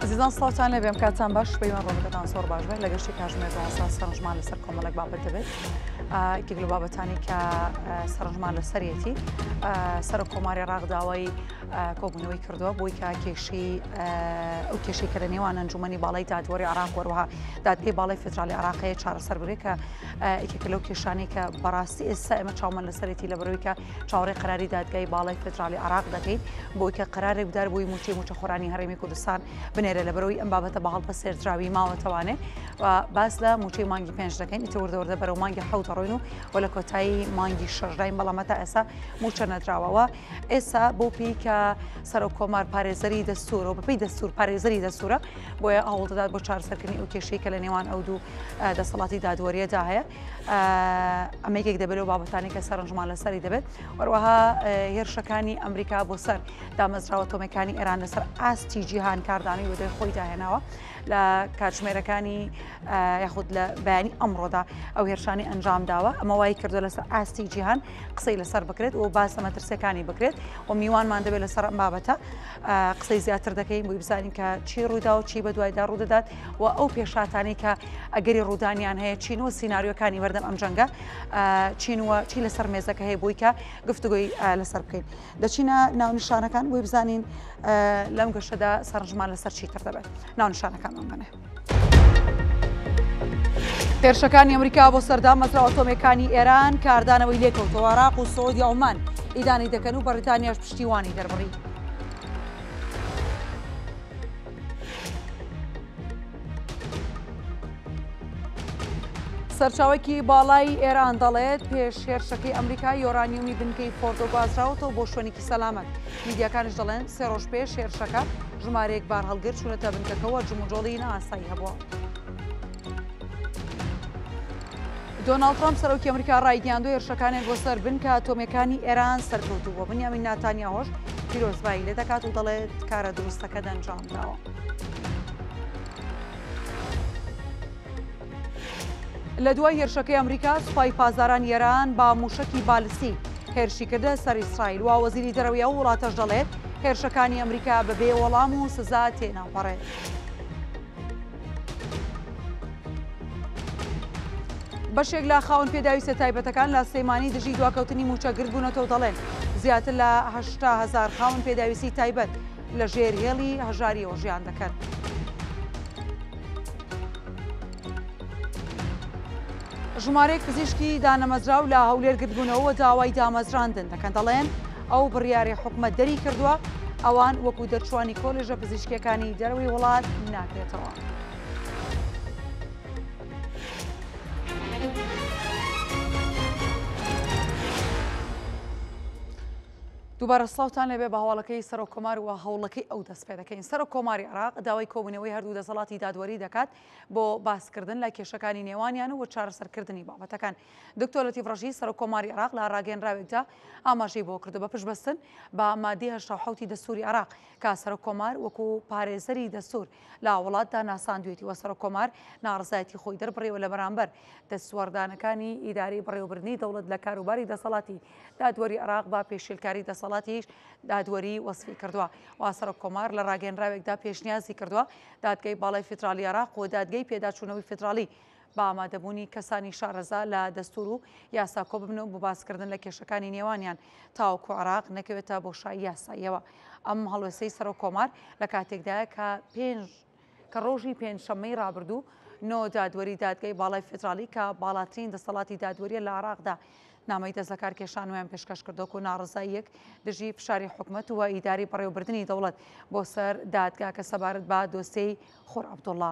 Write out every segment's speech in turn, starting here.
ئەزیزان سڵاوتان لەبێم کاتان باش پەیوان ڕۆژەکەتان سۆر باش بێت لە گەشتی کاژمێر داسا سەرنجمان لەسەر کۆمەڵک بابەت دەبێت ئیکێک لە بابەتانی کە سەرنجمان لە سەرەتی سەر کۆماری ڕاغداوای کۆبوونەوەی کردووە بۆی کە کێشی ئەو کێشی کە لە نێوان ئەنجومی باڵی دادوەری عراق وەروها دادگەی باڵی فدرالی عراقەیە چارەسەر بێ کە ئیکێک لەو کێشانی کە بەڕاستی ئێستا ئێمە چاومە لە سەرەتی لە بەرەوەی کە چاوەڕێی قەراری دادگای باڵای فدراڵی عراق دەکەین بۆی کە قەرارێک بدار بۆی موچەی موچەخۆرانی هەرێمی کوردستان بنێرە لە بەرەوەی ئەم بابەتە بە هەڵپەسێردراوی ماوەتەوانێ و باس لە موچەی مانگی پێنج دەکەین ئیتر وردەوردە بەرەو مانگی حەوت ڕۆین و و لە کۆتایی مانگی شەشداین بەڵام تا ئێستا موچە نەدراوەوە ئێستا بۆ پێی کە سەرۆک کۆمار پارێزەری دەستورەوە بەپی دەستور پارێزەری دەستورە بۆیە ئاوڵدەدات بۆ چارسەرکردنی ئەو کێشەی کە لە نێوان ئەو دوو دەسەڵاتی دادوەریەدا هەیە ئەمە یەکێک دەبێت لەو بابەتانی کە سەرنجمان لەسەری دەبێت وەروەها هێرشەکانی ئەمریکا بۆ سەر دامەزراوە تۆمەکانی ئێران لەسەر ئاستی جیهان کاردانەوەی وەدەی خۆی داهێناوە لە کاتژمێرەکانی یاخود لە بەیانی ئەمڕۆدا ئەو هێرشانی ئەنجام داوە ئەمە وای کردو لەسەر ئاستی جیهان قسەی لەسەر بکرێت و باسە مەترسیەکانی بکرێت و میوانمان دەبێت لەسەر ئەم بابەتە قسەی زیاتر دەکەین بۆی بزانین کە چی ڕوودا و چی بە دوایدا ڕوودەدات و ئەو پێشاتانەی کە ئەگەری ڕوودانیان هەیە چین و سینناریۆکانی بەردەم ئەم جەنگە چین وە چی لەسەر مێزەکە هەیە بووی کە گفتوگوی لەسەر بکەین دەچینە ناونشانەکان بۆی بزانین لەم گەشتەدا سەرنجمان لەسەر چی تر دەبێت ناونشانەکان ئەمەە. هێرشەکانی ئەمریکا بۆ سەردا مەزرا ئۆتۆمەکانی ئێران کاردانەوەی لێکەوتەوە عراق و سعودی ئەومان ئیدانی دەکەن و بەریتانیاش پشتیوانی دەربڕی. سەرچاوەکی باڵای ئێران دەڵێت پێش هێرشەکەی ئەمریکا یۆرانیومی بنکەی فۆردۆ گوازراوەتەوە بۆ شوێنێکی سەلامەت میدیاکانش دەڵێن سێ ڕۆژ پێش هێرشەکە ژمارەیەک بار هەڵگر چوونەتە بنکەکەەوە جموجۆڵی ناسایی هەبووە. دۆناڵد ترەمپ سەرۆکی ئەمریکا ڕایگەیاندو هێرشەکانیان بۆ سەر بنکە ئەتۆمیەکانی ئێران سەرکەوتوو بووە بنیامین ناتانیاهۆش پیرۆزبایی لێ دەکات و دەڵێت کارە دروستەکە دەنجام داوە. لە دوای هێرشەکەی ئەمریکا سوپای پازاران یێران با موشکی بالسی هێرشی کردە سەر ئیسرائیل و وەزیری دەرەوەی ئەو وڵاتەش دەڵێت هێرشەکانی ئەمریکا بەبێ وەڵام و سزا تێناپەڕێت. بەشێک لە خاوەن پێداویستە تایبەتەکان لە سلێمانی دژی دواکەوتنی موچە گردبوونەتەوە دەڵێن زیاتر لە هشتا هزار خاوەن پێداویستی تایبەت لە ژێر هێڵی هەژاریەوە ژیان دەکەن. ژمارەیەک پزیشکی دانەمەزراو لە هەولێر گردبوونەوە داوای دامەزراندن دەکەن دەڵێن ئەو بڕیارەی حکومەت دەری کردووە ئەوان وەکو دەرچوانی کۆلێژە پزیشکەکانی دەروی وڵات ناکرێتەوە. دووبارە سلااوان لەبێ بە هەواڵەکەی سەر کۆمار و هەوڵەکەی ئەو دەست پێ دەکەین سەر کۆماری عراق داوای کۆبنەوەی هەردوو دەسەڵاتی دادوەری دەکات بۆ باسکردن لە کێشەکانی نێوانیان و چارەسەرکردنی بابەتەکان دکتۆر لەتیف ڕەشید سەرۆک کۆماری عێراق لە ڕاگەیەنراوێکدا ئاماژەی بۆ کردو بە پشتبەستن بە مادی هەشتا حوتی دەستوری عێراق کە سەرۆک کۆمار وەکو پارێزەری دەستور لە وڵاتدا ناساندوێتی وە سەرۆک کۆمار ناڕزایەتی خۆی دەربڕیوە لە بەرامبەر دەستوەردانەکانی ئیدارەی بەڕێوەبردنی دەوڵەت لە کاروباری دەسەڵاتی دادوەری عێراق بە پێشیلکاری دەسەڵاتیش دادوەری وەسفی کردووە و سەرۆک کۆمار لە ڕاگەنراوێکدا پێشنیازی کردووە دادگەی باڵای فیدراڵی عێراق و دادگەی پێداچوونەوەی فیدراڵی بە ئامادەبوونی کەسانی شارەزا لە دەستوور و یاسا کۆببنە و بۆ باسکردن لە کێشەکانی نێوانیان تاوەکو عێراق نەکەوێتە بۆشایی یاساییەوە. ئەم هەڵوێستەی سەرۆککۆمار لە کاتێکدایە کە پێنج کە ڕۆژی پێنجشەممەی ڕابردوو نۆ دادوەری دادگای باڵای فیدراڵی کە باڵاترین دەسەڵاتی دادوەریە لە عێراقدا نامەی دەست لە کارکێشانویان پێشکەش کردۆک و ناڕزاییەک دژی فشاری حکومت و ئیداری بەڕێوبردننی دەوڵەت بۆ سەر دادگاکە سەبارەت بە دۆسیەی خۆر عبدوڵڵا.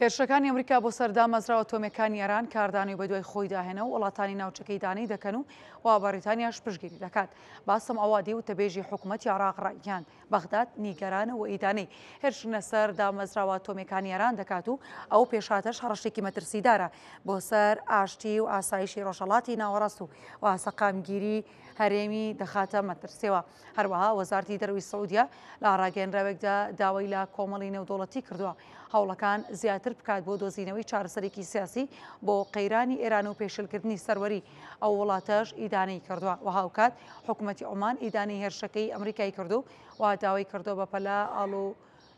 هێرشەکانی ئەمریکا بۆ سەر دامەزراوە تۆمەکانی ئێران کاردانەوەی بە دوای خۆی داهێنە و وڵاتانی ناوچەکەی دانەی دەکەن و وا بەڕیتانیاش پشگیری دەکات باسم ئەوادی و تەبێژی حکوومەتتی عراق ڕایگەاند بەغداد نیگەرانە و ئیدانەی هێرشنە سەر دامەزراوە ئەتۆمیەکانی ئێران دەکات و ئەو پێشهاتەش هەڕەشێکی مەترسیدارە بۆ سەر ئاشتی و ئاسایشی ڕۆژهەڵاتی ناوەڕاست و و سەقامگیری هەرێمی دەخاتە مەترسیەوە هەروەها وەزارتی دەروی سعودیە لە ڕاگەنراوێکدا داوای لە کۆمەڵی نێودوڵەتی کردووە هەوڵەکان زیاتر بکات بۆ دۆزینەوەی چارەسەرێکی سیاسی بۆ قەیرانی ئێران و پێشلکردنی سەروەری ئەو وڵاتەش ئیدانەی کردووە و هاوکات حکومەتی عومان ئیدانەی هێرشەکەی ئەمریکای کردو و داوای کردووە بەپەلە ئاڵ و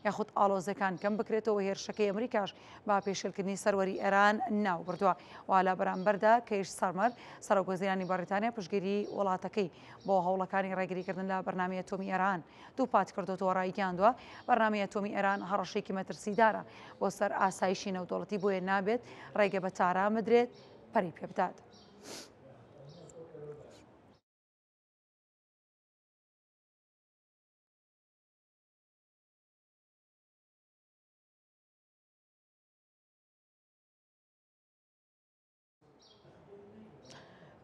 یاخود ئاڵۆزەکان کەم بکرێتەوە هێرشەکەی ئەمریکاش با پێشێلکردنی سەروەری ئێران ناو بردووە والا بەرامبەردا کەیش سەرمەر سەرۆک وەزیرانی بەڕیتانیا پشگیری وڵاتەکەی بۆ هەوڵەکانی ڕێگریکردن لە بەرنامی ئەتۆمی ئێران دووپات کردوەوە ڕایگەیاندووە بەرنامی ئەتۆمی ئێران هەڕەشێکی مەترسیدارە بۆ سەر ئاسایشی نەودەوڵەتی بۆیە نابێت ڕێگە بە تاران بدرێت پەرەی پێ بدات.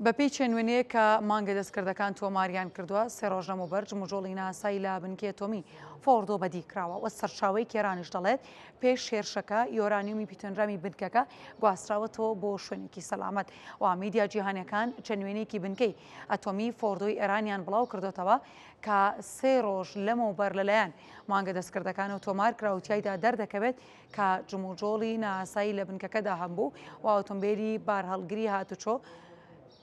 بەپێی چێنوێنەیە کە مانگە دەستکردەکان تۆماریان کردووە سێ ڕۆژ لەمە بەرج مژۆڵی ناسای لە بنکێتۆمی فۆردۆ بەدیکراوە وە سەرچاوی کێرانیش دەڵێت پێش هێرشەکە یۆرانیومی پیتۆنرامی بنکەکە گواستراوەتەوە بۆ شوێنێکی سەلامەت و میدیا جیهانەکان چەند وێنێکی بنکەی ئەتۆمی فۆردۆی ئێرانیان بڵاو کردوتەوە کە سێ ڕۆژ لەمەوبەر لەلایەن مانگە دەستکردەکانەوە تۆمار کرا و تایدا دەردەکەوێت کە جموجۆڵی ناسایی لە بنکەکەدا هەمبوو و ئۆتۆمبیلی بارهەڵگری هاتوچۆ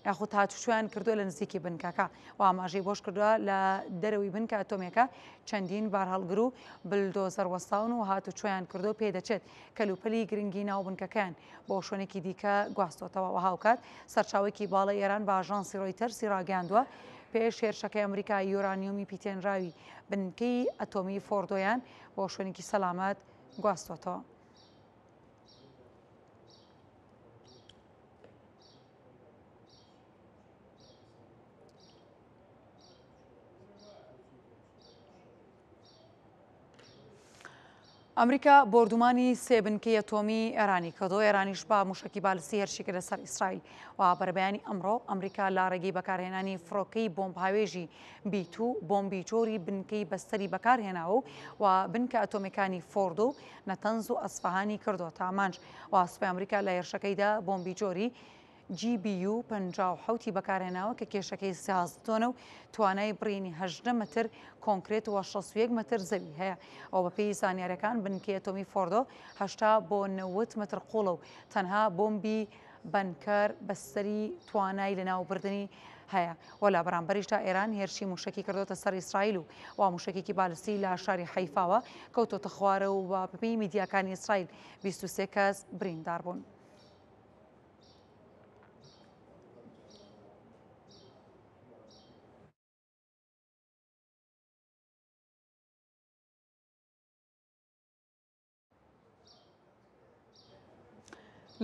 یاخود هاتوچۆیان کردووە لە نزیکی بنکەکە و ئاماژەی بۆش کردووە لە دەرەوەی بنکە ئەتۆمێکە چەندین بارهەڵگر و بلدۆزەر وەستاون و هاتوچۆیان کردووە و پێدەچێت کەلوپەلی گرنگی ناو بنکەکەیان بۆ شوێنێکی دیکە گواستۆتەوە و هاوکات سەرچاوێکی باڵای ئێران بە ئاژانسی ڕۆیتەرزی ڕاگەیاندووە پێش هێرشەکەی ئەمریکا یۆرانیۆمی پیتێنراوی بنکەی ئەتۆمی فۆردۆیان بۆ شوێنێکی سەلامەت گواستۆتەوە. ئەمریکا بۆردومانی سێ بنکەی ئەتۆمی ئێرانی کردو ئێرانیش بە موشکی بالسی هەرشیکە لەسەر ئیسرائیل و بەرەبەیانی ئەمڕۆ ئەمریکا لە ڕێگەی بەکارهێنانی فڕۆکەی بۆمب هاوێژی بیت و بۆمبی جۆری بنکەی بەستەری بەکارهێناوە و بنکە ئەتۆمیەکانی فۆرد و نەتەنز و ئەسفەهانی کردوەتە ئامانج و سوپای ئەمریکا لە هێرشەکەیدا بۆمبی جۆری GBU 57 ی بەکارهێناوە کە کێشەکەی 16 تۆنە و توانای بڕینی 18 متر کۆنکرێت و 61 متر زەوی هەیە ئەو بەپێی زانیارەکان بنکەی ئەتۆمی فۆردۆ 80 بۆ 90 متر قوڵە و تەنها بۆمبی بەنکەر بەسەری توانای لەناوبردنی هەیە و لە بەرامبەریشدا ئێران هێرشی موشکی کردوتە سەر ئیسرائیل و وا موشکێکی بالسی لە شاری حیفاوە کەوتۆتە خوارە و بە بەپی میدیاکانی ئیسرائیل بیست و سێ کەس برینداربوون.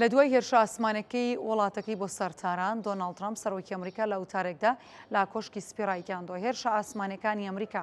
لە دوای هێرشە ئاسمانەکەی وڵاتەکەی بۆ سەر تاران دۆناڵد ترامپ سەرۆکی ئەمریکا لە وتارێکدا لا کۆشکی سپێڕایگەاندۆ هێرشە ئاسمانەکانی ئەمریکا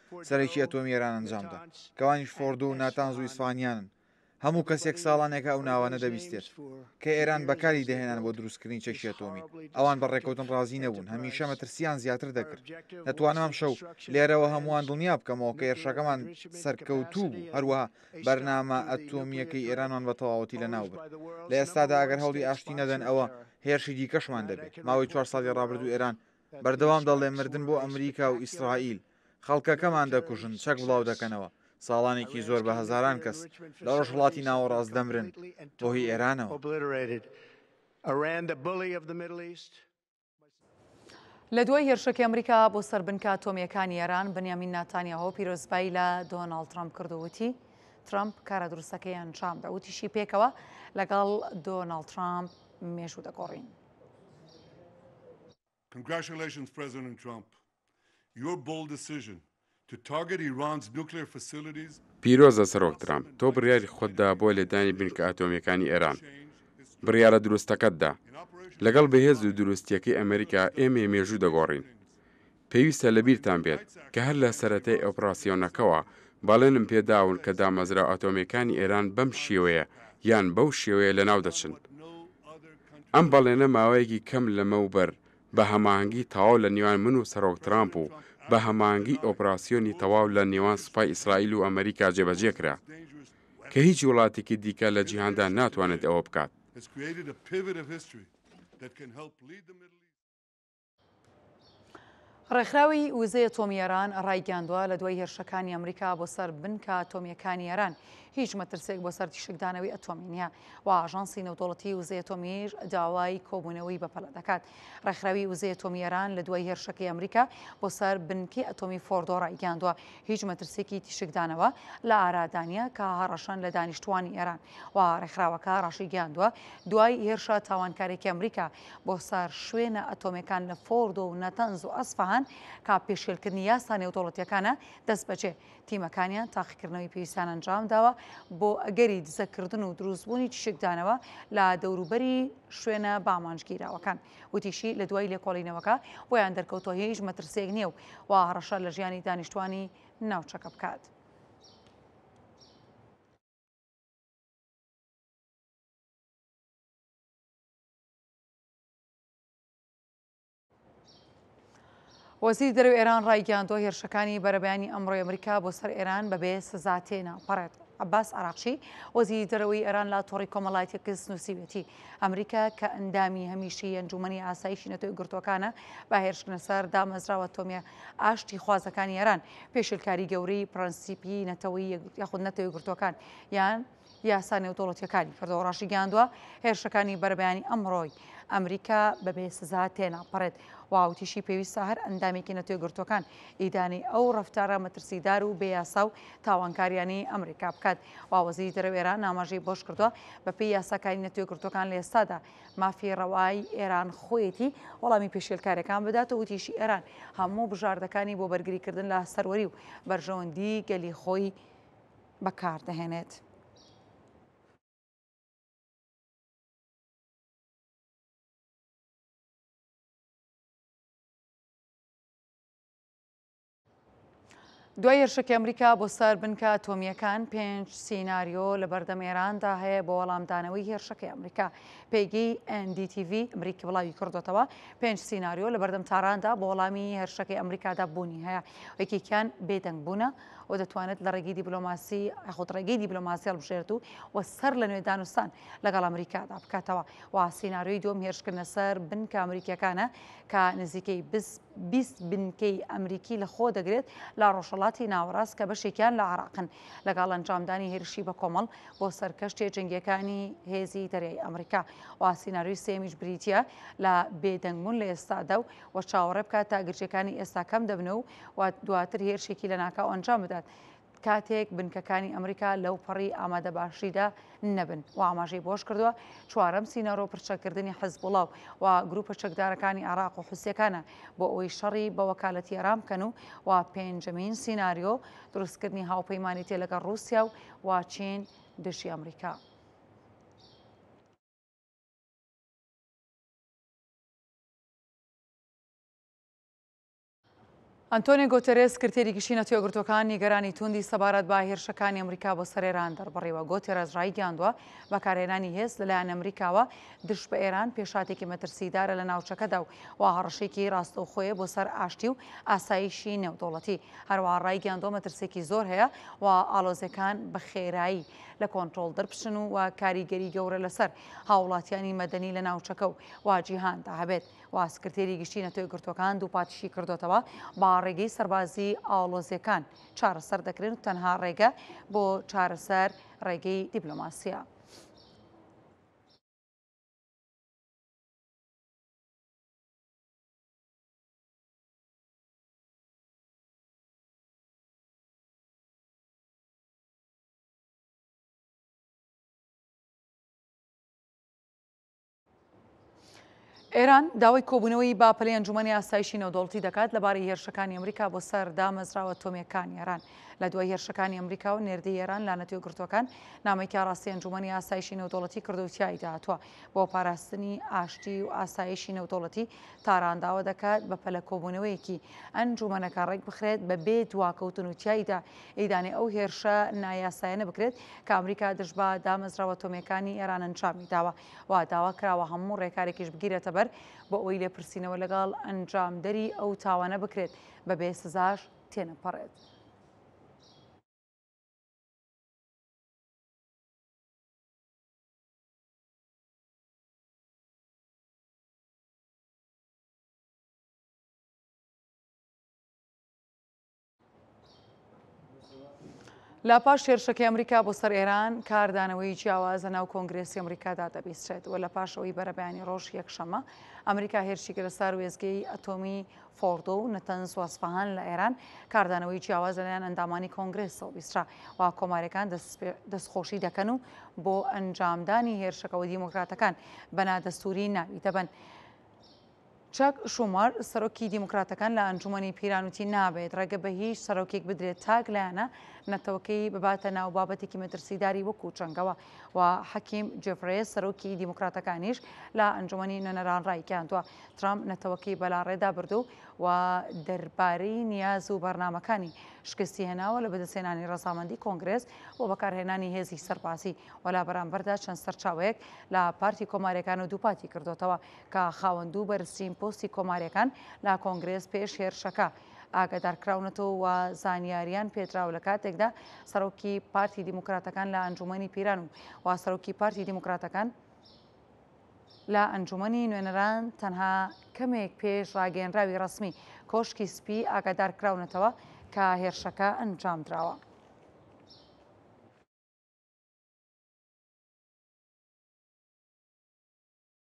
سەرەکی ئەتۆمی ئێران ئەنجامدا، کەوانیش فۆردۆ و ناتانز و ئیسفانیانن. هەموو کەسێک ساڵانێکە ئەو ناوانە دەبیستێت، کە ئێران بەکاری دەهێنان بۆ دروستکردنی چەکی ئەتۆمی. ئەوان بە ڕێککەوتن ڕازی نەبوون، هەمیشە مەترسییان زیاتر دەکرد. دەتوانم ئەمشەو لێرەوە هەمووان دڵنیا بکەمەوە کە هێرشەکەمان سەرکەوتوو بوو، هەروەها بەرنامە ئەتۆمییەکەی ئێرانمان بە تەواوەتی لەناو برد. لە ئێستادا ئەگەر هەوڵی ئاشتی نەدەن، ئەوە هێرشی دیکەشمان دەبێت. ماوەی چوار ساڵی ڕابردوو ئێران بەردەوام دەڵێ مردن بۆ ئەمریکا و ئیسرائیل. خەڵکەکەمان دەکوژن، چەک بڵاو دەکەنەوە. ساڵانێکی زۆر بە هەزاران کەس لە ڕۆژهەڵاتی ناوەڕاست دەمرن بۆ هی ئێرانەوە. لە دوای هێرشەکی ئەمریکا بۆ سەر بنکە ئەتۆمییەکانی ئێران، بنیامین ناتانیاهۆ پیرۆزبایی لە دۆناڵد ترەمپ کرد و وتی، ترەمپ کارە دروستەکەی ئەنجامدا. وتیشی پێکەوە لەگەڵ دۆناڵد ترەمپ مێژوو دەگۆڕین. Congratulations President Trump. Your bold decision to target Iran's nuclear facilities. پیرۆزە سەرۆک ترامپ، تۆ بڕیاری خۆتدا بۆ لێدانی بنکە ئەتۆمییەکانی ئێران. بڕیارە دروستەکەتدا. لەگەڵ بەهێز و دروستییەکەی ئەمریکا ئێمەی مێژوو دەگۆڕین. پێویستە لە بیرتان بێت کە هەر لە سەرەتای ئۆپڕاسیۆنەکەوە بەڵێنم پێ داون کە دامەزراوە ئەتۆمیەکانی ئێران بەم شێوەیە یان بەو شێوەیە لە ناو دەچن. ئەم بەڵێنە ماوەیەکی کەم لەمەو بەر بە هەماهەنگی تاواو لە نێوان من و سەرۆک ترامپ و بە هەماهەنگی ئۆپڕاسیۆنی تەواو لە نێوان سوپای ئیسرائیل و ئەمەریکا جێبەجێ کرا کە هیچ وڵاتێکی دیکە لە جیهاندا ناتوانێت ئەوە بکات. ڕێکخراوی وزەی ئەتۆمی ئێران ڕایگەیاندووە لە دوای هێرشەکانی ئەمریکا بۆ سەر بنکە ئەتۆمییەکانی ئێران هیچ مەترسێک بۆ سەر تیشکدانەوەی ئەتۆمی نییە و ئاژانسی نەودەوڵەتی وزەی ئەتۆمیش داوای کۆبوونەوەی بەپەلە دەکات ڕێکخراوی وزەی ئەتۆمی ئێران لە دوای هێرشەکەی ئەمریکا بۆ سەر بنکی ئەتۆمی فۆردۆ ڕایگەیاندووە هیچ مەترسێکی تیشکدانەوە لە ئارادانە کە هەڕەشەن لە دانیشتوانی ئێران و ڕێکخراوەکە ڕاشیگەیاندووە دوای هێرشە تاوانکارێکی ئەمریکا بۆ سەر شوێنە ئەتۆمێکان لە فۆردۆ و نەتەنز و ئەسفەهان کە پێشێلکردنی یاسا نێودەوڵەتیەکانە دەست بەجێ تیمەکانیان تاقیکردنەوەی پێویستان ئەنجام داوە بۆ ئەگەری دزەکردن و دروستبوونی تیشکدانەوە لە دەوروبەری شوێنە بامانجگیراوەکان وتیشی لە دوای لێکۆڵینەوەکە بۆیان دەرکەوتۆ هیچ مەترسێک نییە و و هەڕەشە لە ژیانی دانیشتوانی ناوچەکە بکات. وەزیری دەرەوەی ئێران ڕایگەیاندووە هێرشەکانی بەرەبەیانی ئەمڕۆی ئەمریکا بۆ سەر ئێران بەبێ سزا تێنا پەڕێت عباس عراقچی وەزیری دەرەوەی ئێران لە تۆڕی کۆمەڵایەتی کەس نووسیوێتی ئەمریکا کە ئەندامی هەمیشی ئەنجومنی ئاسایشی نەتۆی گرتوەکانە بە هێرشکنە سەر دامەزراوە تۆمیە ئاشتی خوازەکانی ئێران پێشلکاری گەورەی پرەنسیپی نەتەوەی یاخود نەتەوەی گرتوەکان یان یاسا نێودەوڵەتییەکانی کردەوە ڕاشیگەیاندووە، هێرشەکانی بەرەبەیانی ئەمڕۆی ئەمریکا بەبێ سزا تێناپەڕێت و وتیشی پێویستە هەر ئەندامێکی نەتەوەیەکگرتووەکان ئیدانەی ئەو ڕەفتارە مەترسیدار و بێ یاسا و تاوانکاریانەی ئەمریکا بکات و وەزیری دەرەوەی ئێران ئاماژەی بەوەش کردووە، بەپێی یاساکانی نەتەوەیەکگرتووەکان لە ئێستادا مافی ڕەوای ئێران خۆیەتی وەڵامی پێشێلکارییەکان بدات و وتیشی ئێران هەموو بژاردەکانی بۆ بەرگریکردن لە سەروەری و بەرژەوەندیی گەلی خۆی بەکاردەهێنێت. دوای هێرشەکی ئەمریکا بۆ سەر بنکە ئەتۆمییەکان پێنج سیناریۆ لە بەردەم ئێراندا هەیە بۆ وەڵامدانەوەی هێرشەکەی ئەمریکا پێگەی NDTV ئەمریکی بڵاوی کردوتەوە پێنج سیناریۆ لە بەردەم تاراندا بۆ وەڵامی هێرشەکەی ئەمریکادا بوونی هەیە یەکێکیان بێدەنگ بوونە و دەتوانێت لە ڕێگەی دیبلۆماسی یاخود ڕێگەی دیبلۆماسی هەڵبژێرێت و و سەر لە نوێ دانوستان لەگەڵ ئەمریکادا بکاتەوە و سیناریۆی دووەم هێرشکردنە سەر بنکە ئەمریکییەکانە کە نزیکەی بز 20 بنکەی ئەمریکی لە خۆ دەگرێت لە ڕۆژهەڵاتی ناوەڕاست کە بەشێکیان لە عراقن لەگەڵ ئەنجامدانی هێرشی بە کۆمەڵ بۆ سەر کەشتێ جنگیەکانی هێزی دەریای ئەمریکا و سیناریۆی سێمیش بریتە لە بێدەنگبوون لە ئێستادا و و چاوەڕێ بکات تا گرژەکانی ئێستا کەم دەبنە و و دواتر هێرشێکی لەناکاو ئەنجام بدات کاتێک بنکەکانی ئەمریکا لەو پەڕی ئامادە باشیدا نەبن و ئاماژەی بۆش کردووە چوارەم سینەرۆ پرچەکردنی حزبڵاو و گروپە چەکدارەکانی عراق و حوسەکانە بۆ ئەوی شەڕی بە وەکالەتی ئەرام بکەن و و پێنجەمین سینناریۆ دروستکردنی هاوپەیمانی تێ لەگەڵ رووسیا و واچین دژی ئەمریکا. ئەنتۆنێ گۆتێرێس سکرتێری گشتی نەتەوەگرتوەکان نیگەرانی توندی سەبارەت با هێرشەکانی ئەمریکا بۆ سەر ئێران دەربڕیوە گۆتێرەس ڕایگەیاندووە بەکارهێنانی هێز لەلایەن ئەمریکاوە دش بە ئێران پێشاتێکی مەترسیدارە لە ناوچەکەدا و وا هەڕەشێکی ڕاستەوخۆیە بۆ سەر ئاشتی و ئاسایشی نێودەوڵەتی هەروەها ڕایگەیاندووە مەترسێکی زۆر هەیە و ئالۆزەکان بە خێرایی لە کۆنتترۆل دەربچن و و کاریگەری گەورە لەسەر هاوڵاتیانی مەدەنی لە ناوچەکە و واجیهاندا هەبێت و سکرتێری گشتی نەتۆیەکگرتووەکان دووپاتیشی کردۆتەوە با ڕێگەی سەربازی ئاڵۆزیەکان چارەسەر دەکرێن و تەنها ڕێگە بۆ چارەسەر ڕێگەی دیبلۆماسیە. ئێران داوای کۆبوونەوەی با پلەی ئەنجومەنی ئاسایشی نەودەوڵتی دەکات لەبارەی هێرشەکانی ئەمریکا بۆ سەر دامەزراوە تۆمیەکانی ئێران لە دوای هێرشەکانی ئەمریکا و نێردی ئێران لا نەتوێ گرتوەکان نامێکی ڕاستی ئەنجومەنی ئاسایشی نەودەوڵەتی کردوتیایی داهاتوە بۆ پاراستنی ئاشتی و ئاسایشی نەودەوڵەتی تارانداوە دەکات بە پەلە کۆبوونەوەیەکی ئەنجومەنەکە ڕێک بخرێت بە بێ دواکەوتن و تاییدا ئیدانێ ئەو هێرشە نایاسایەنە بکرێت کە ئەمریکا دژبا دامەزراوە تۆمیەکانی ئێران ئەنجامی داوە و داوا کراوە هەموو ڕێکارێکیش بگیرێتەبەر بۆ ئەوەی لێپرسینەوە لەگەڵ ئەنجامدەری ئەو تاوانە بکرێت، بەبێ سزاش تێنەپەڕێت. لە پاش هێرشەکەی ئەمریکا بۆ سەر ئێران کاردانەوەی جیاواز لە ناو کۆنگرێسی ئەمریکادا دەبیسترێت و لە پاشەوەی بەرەبیانی ڕۆژ یەکشەمە ئەمریکا هێرشی کرە سار وێزگەی ئەتۆمی فۆردۆ و نەتەن سواسفهان لە ئێران کاردانەوەی جیاواز لەلایەن ئەندامانی کۆنگرێسەوە بیسرا و کۆمارەکان دەستخۆشی دەکەن و بۆ ئەنجامدانی هێرشەکەەوە دیموکراتەکان بەنادەستوری ناوی دەبن. چاک شومار، سەرۆکی دیموکراتەکان لە ئەنجوومەنی پیران وتی نابێت ڕێگە بە هیچ سەرۆکێک بدرێت تاک لایەنە نەتەوەکەی بباتە ناو بابەتێکی مەترسیداری وەکو چەنگەوە و حەکیم جێفرێس سەرۆکی دیموکراتەکانیش لە ئەنجوومەنی نوێنەران ڕایگەیاندووە ترامپ نەتەوەکەی بەلاڕێدا بردو و دەربارەی نیاز و بەرنامەکانی شکستی هێناوە لە بەدەستهێنانی ڕەزامەندی کۆنگرێس بۆ بەکارهێنانی هێزی سەربازی و لە بەرامبەردا چەند سەرچاوەیەک لە پارتی کۆماریەکان و دووپاتی کردۆتەوە کە خاوەن دوو بەرزترین پۆستی کۆماریەکان لە کۆنگرێس پێش هێرشەکە ئاگادارکراونەتەوە و زانیاریان پێدراو لە کاتێکدا سەرۆکی پارتی دیموکراتەکان لە ئەنجومەنی پیران و وا سەرۆکی پارتی دیموکراتەکان لە ئەنجومەنی نوێنەران تەنها کەمێک پێش ڕاگەنراوی ڕسمی کۆشکی سپی ئاگادار کراونەتەوە کە هێرشەکە ئەنجام دراوە.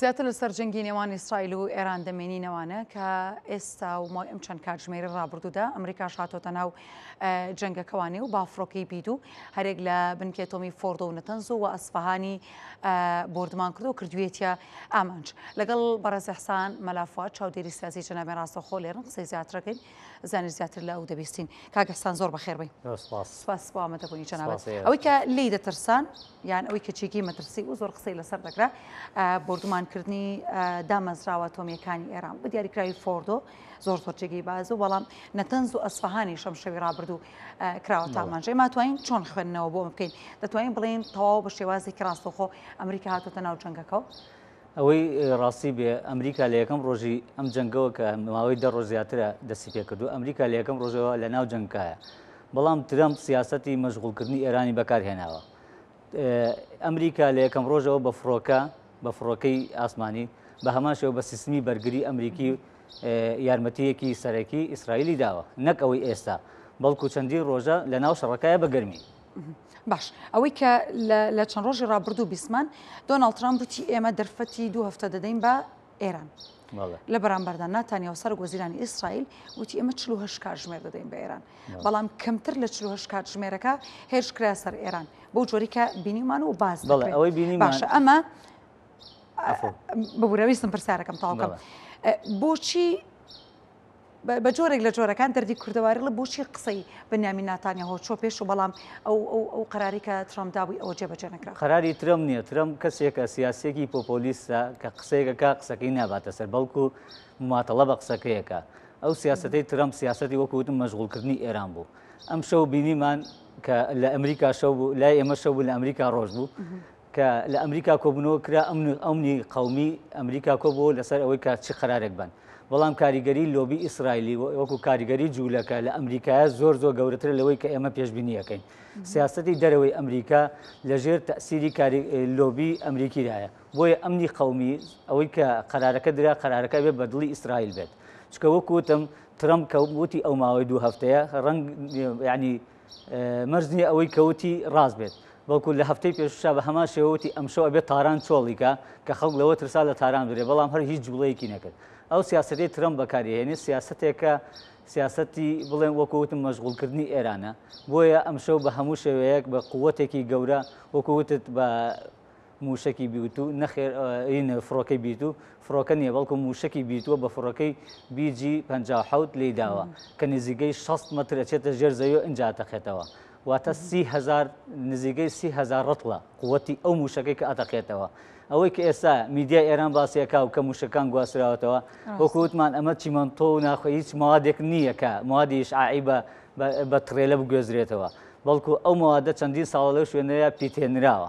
زیاتر لەسەر جەنگی نێوان ئیسرائیل و ئێران دەمێنینەوانە کە ئێستا و مای ئەم چەند کاتژمێری ڕابردوودا ئەمریکا شاتۆتە ناو جەنگەکە وا نێو بافڕۆکەی بید و هەرێک لە بنکێ تۆمی فۆردۆ و نەتەنز و وە ئەسفەهانی بۆردمان کردو کردوێتە ئامانج لەگەڵ بەڕێز حسان مەلافوات چاودێری سیاسی جەنابێن ڕاستەخۆ لێرن قسەی زیاترەکەین زانش زیاتر لە ئەو دەبیستین کاگەحسان زۆر بەخێربی سپاس بۆمەدەبوونی جەنابەت ئەوەی کە لی دەترسان یان ئەوەی کە چێکی مەترسی و زۆر قسەی لەسەر دەکرا بردومانکردنی دامەزراوە تۆمیەکانی ئێران بە دیاریکراوی فۆردۆ زۆر زۆر جێگەی بازە بەڵام نەتەنز و ئەسفەهانی شەم شەوی ڕابردوو کراوە تامانژێ ما توانین چۆن خوێندنەوە بۆ بکەین دەتوانین بڵێن تەواو بە شێوازێکی ڕاستەخۆ ئەمریکا هاتوتە ناو جەنگەکەەوە ئەوەی ڕاستی بێ ئەمریکا لە یەکەم ڕۆژی ئەم جەنگەوە کە ماوەی دە ڕۆژ زیاترە دەستی پێکردو ئەمریکا لە یەکەم ڕۆژەوە لە ناو جەنگکایە بەڵام ترەمپ سیاستی مەشغولکردنی ئێرانی بەکارهێناوە ئەمریکا لە یەکەم ڕۆژەوە بە فڕۆکە بە فڕۆکەی ئاسمانی بە هەمان شێوە بە سیستمی بەرگری ئەمریکی یارمەتیەکی سەرەکی ئیسرائیلی داوە نەک ئەوەی ئێستا بەڵکو چەندی ڕۆژە لە ناو شەڕەکایە بە گەرمی باش ئەوەی کە لە چەند ڕۆژی ڕابردوو بیسمان دۆناڵ ترامپ وتی ئێمە دەرفەتی دوو هەفتە دەدەین بە ئێران لە بەرامبەردا ناتانیا و سەرک وەزیرانی ئیسرائیل وتی ئێمە چلو هەش کاتژمێر دەدەین بە ئێران بەڵام کەمتر لە چلو هەش کاتژمێرەکە هێرش کرا سەر ئێران بۆ جۆریکە بینیمان و باز ئەوەی بینی باشە ئەمە ببوورەویستم پرسیارەکەم تاوکەم بۆچی بە جۆرێک لە جۆرەکان دەردی کوردەواریڵە بۆچی قسەی بنیامین ناتانیاهۆ چۆ پێش و بەڵام ئەو ئەو ئەو قەراری کە ترامپ دابووی ئەوە جێبەجێ نەکرا قەراری ترەمپ نییە ترەمپ کەسێکە سیاسیەکی پۆپۆلیستە کە قسەیەکەکە قسەکەی ناباتە سەر بەڵکو مماتەڵە بە قسەکەیەکە ئەو سیاستەی ترەمپ سیاستی وەکوتم مەشغولکردنی ئێران بوو ئەم شەو بینیمان کە لە ئەمریکا شەو بوو لای ئێمە شەو بوو لە ئەمریکا ڕۆژ بوو کە لە ئەمریکا کۆبوونەوە کرا ئەمن و ئەمنی قەومی ئەمریکا کۆبووەوە لەسەر ئەوەی کە چ قەرارێک بەن بەڵام کاریگەری لۆبی ئیسرائیلی و- وەکو کاریگەری جوولەکە لە ئەمریکایە زۆر زۆر گەورەترە لەوەی کە ئێمە پێشبینییەکەین سیاسەتی دەرەوەی ئەمریکا لە ژێر تەئسیری کاری لۆبی ئەمریکیدایە بۆیە ئەمنی قەومی ئەوەی کە قەرارەکە درا قەرارەکە ئەبێ بە دڵی ئیسرائیل بێت چونکە وەکو وتم ترەمپ کە وتی ئەو ماوەی دوو هەفتەیە ڕەنگ یانی مەرج نییە ئەوەی کە وتی ڕاست بێت، بەڵکو لە هەفتەی پێشووشا بە هەمان شێوە وتی ئەمشەو ئەبێت تاران چۆڵی کا، کە خەڵک لەوە ترسا لە تاران برێ، بەڵام هەر هیچ جووڵەیەکی نەکرد. ئەو سیاسەتەی ترەمپ بەکاری ئەهێنێت سیاسەتێکە سیاسەتی بڵێم وەکو وتم مەشغووڵکردنی ئێرانە، بۆیە ئەمشەو بە هەموو شێوەیەک بە قووەتێکی گەورە وەکو وتت بە، مووشەکی بیوتو، نەخێر ئەوین فڕۆکەی بیوتو، فڕۆکە نییە بەڵکو مووشەکی بیوتوە بە فڕۆکەی بی جی پەنجا و حەوت لێی داوە کە نزیکەی شەست مەتر ئەچێتە ژێر زەوی و ئینجا ئەتەقێتەوە واتە سی هەزار نزیکەی سی هەزار ڕەتڵە قووتی ئەو مووشەکەی کە ئەتەقێتەوە ئەوەی کە ئێستا میدیای ئێران باسی ئەکا و کە مووشەکان گواستراوەتەوە وەکو وتمان ئەمە چیمەنتۆ و ناخۆ هیچ موادێک نییە کە موادی ئیشعاعی بە بە تڕێلە بگوێزرێتەوە بەڵکو ئەو موادە چەندین ساڵە لەو شوێنەیە پیتێنراوە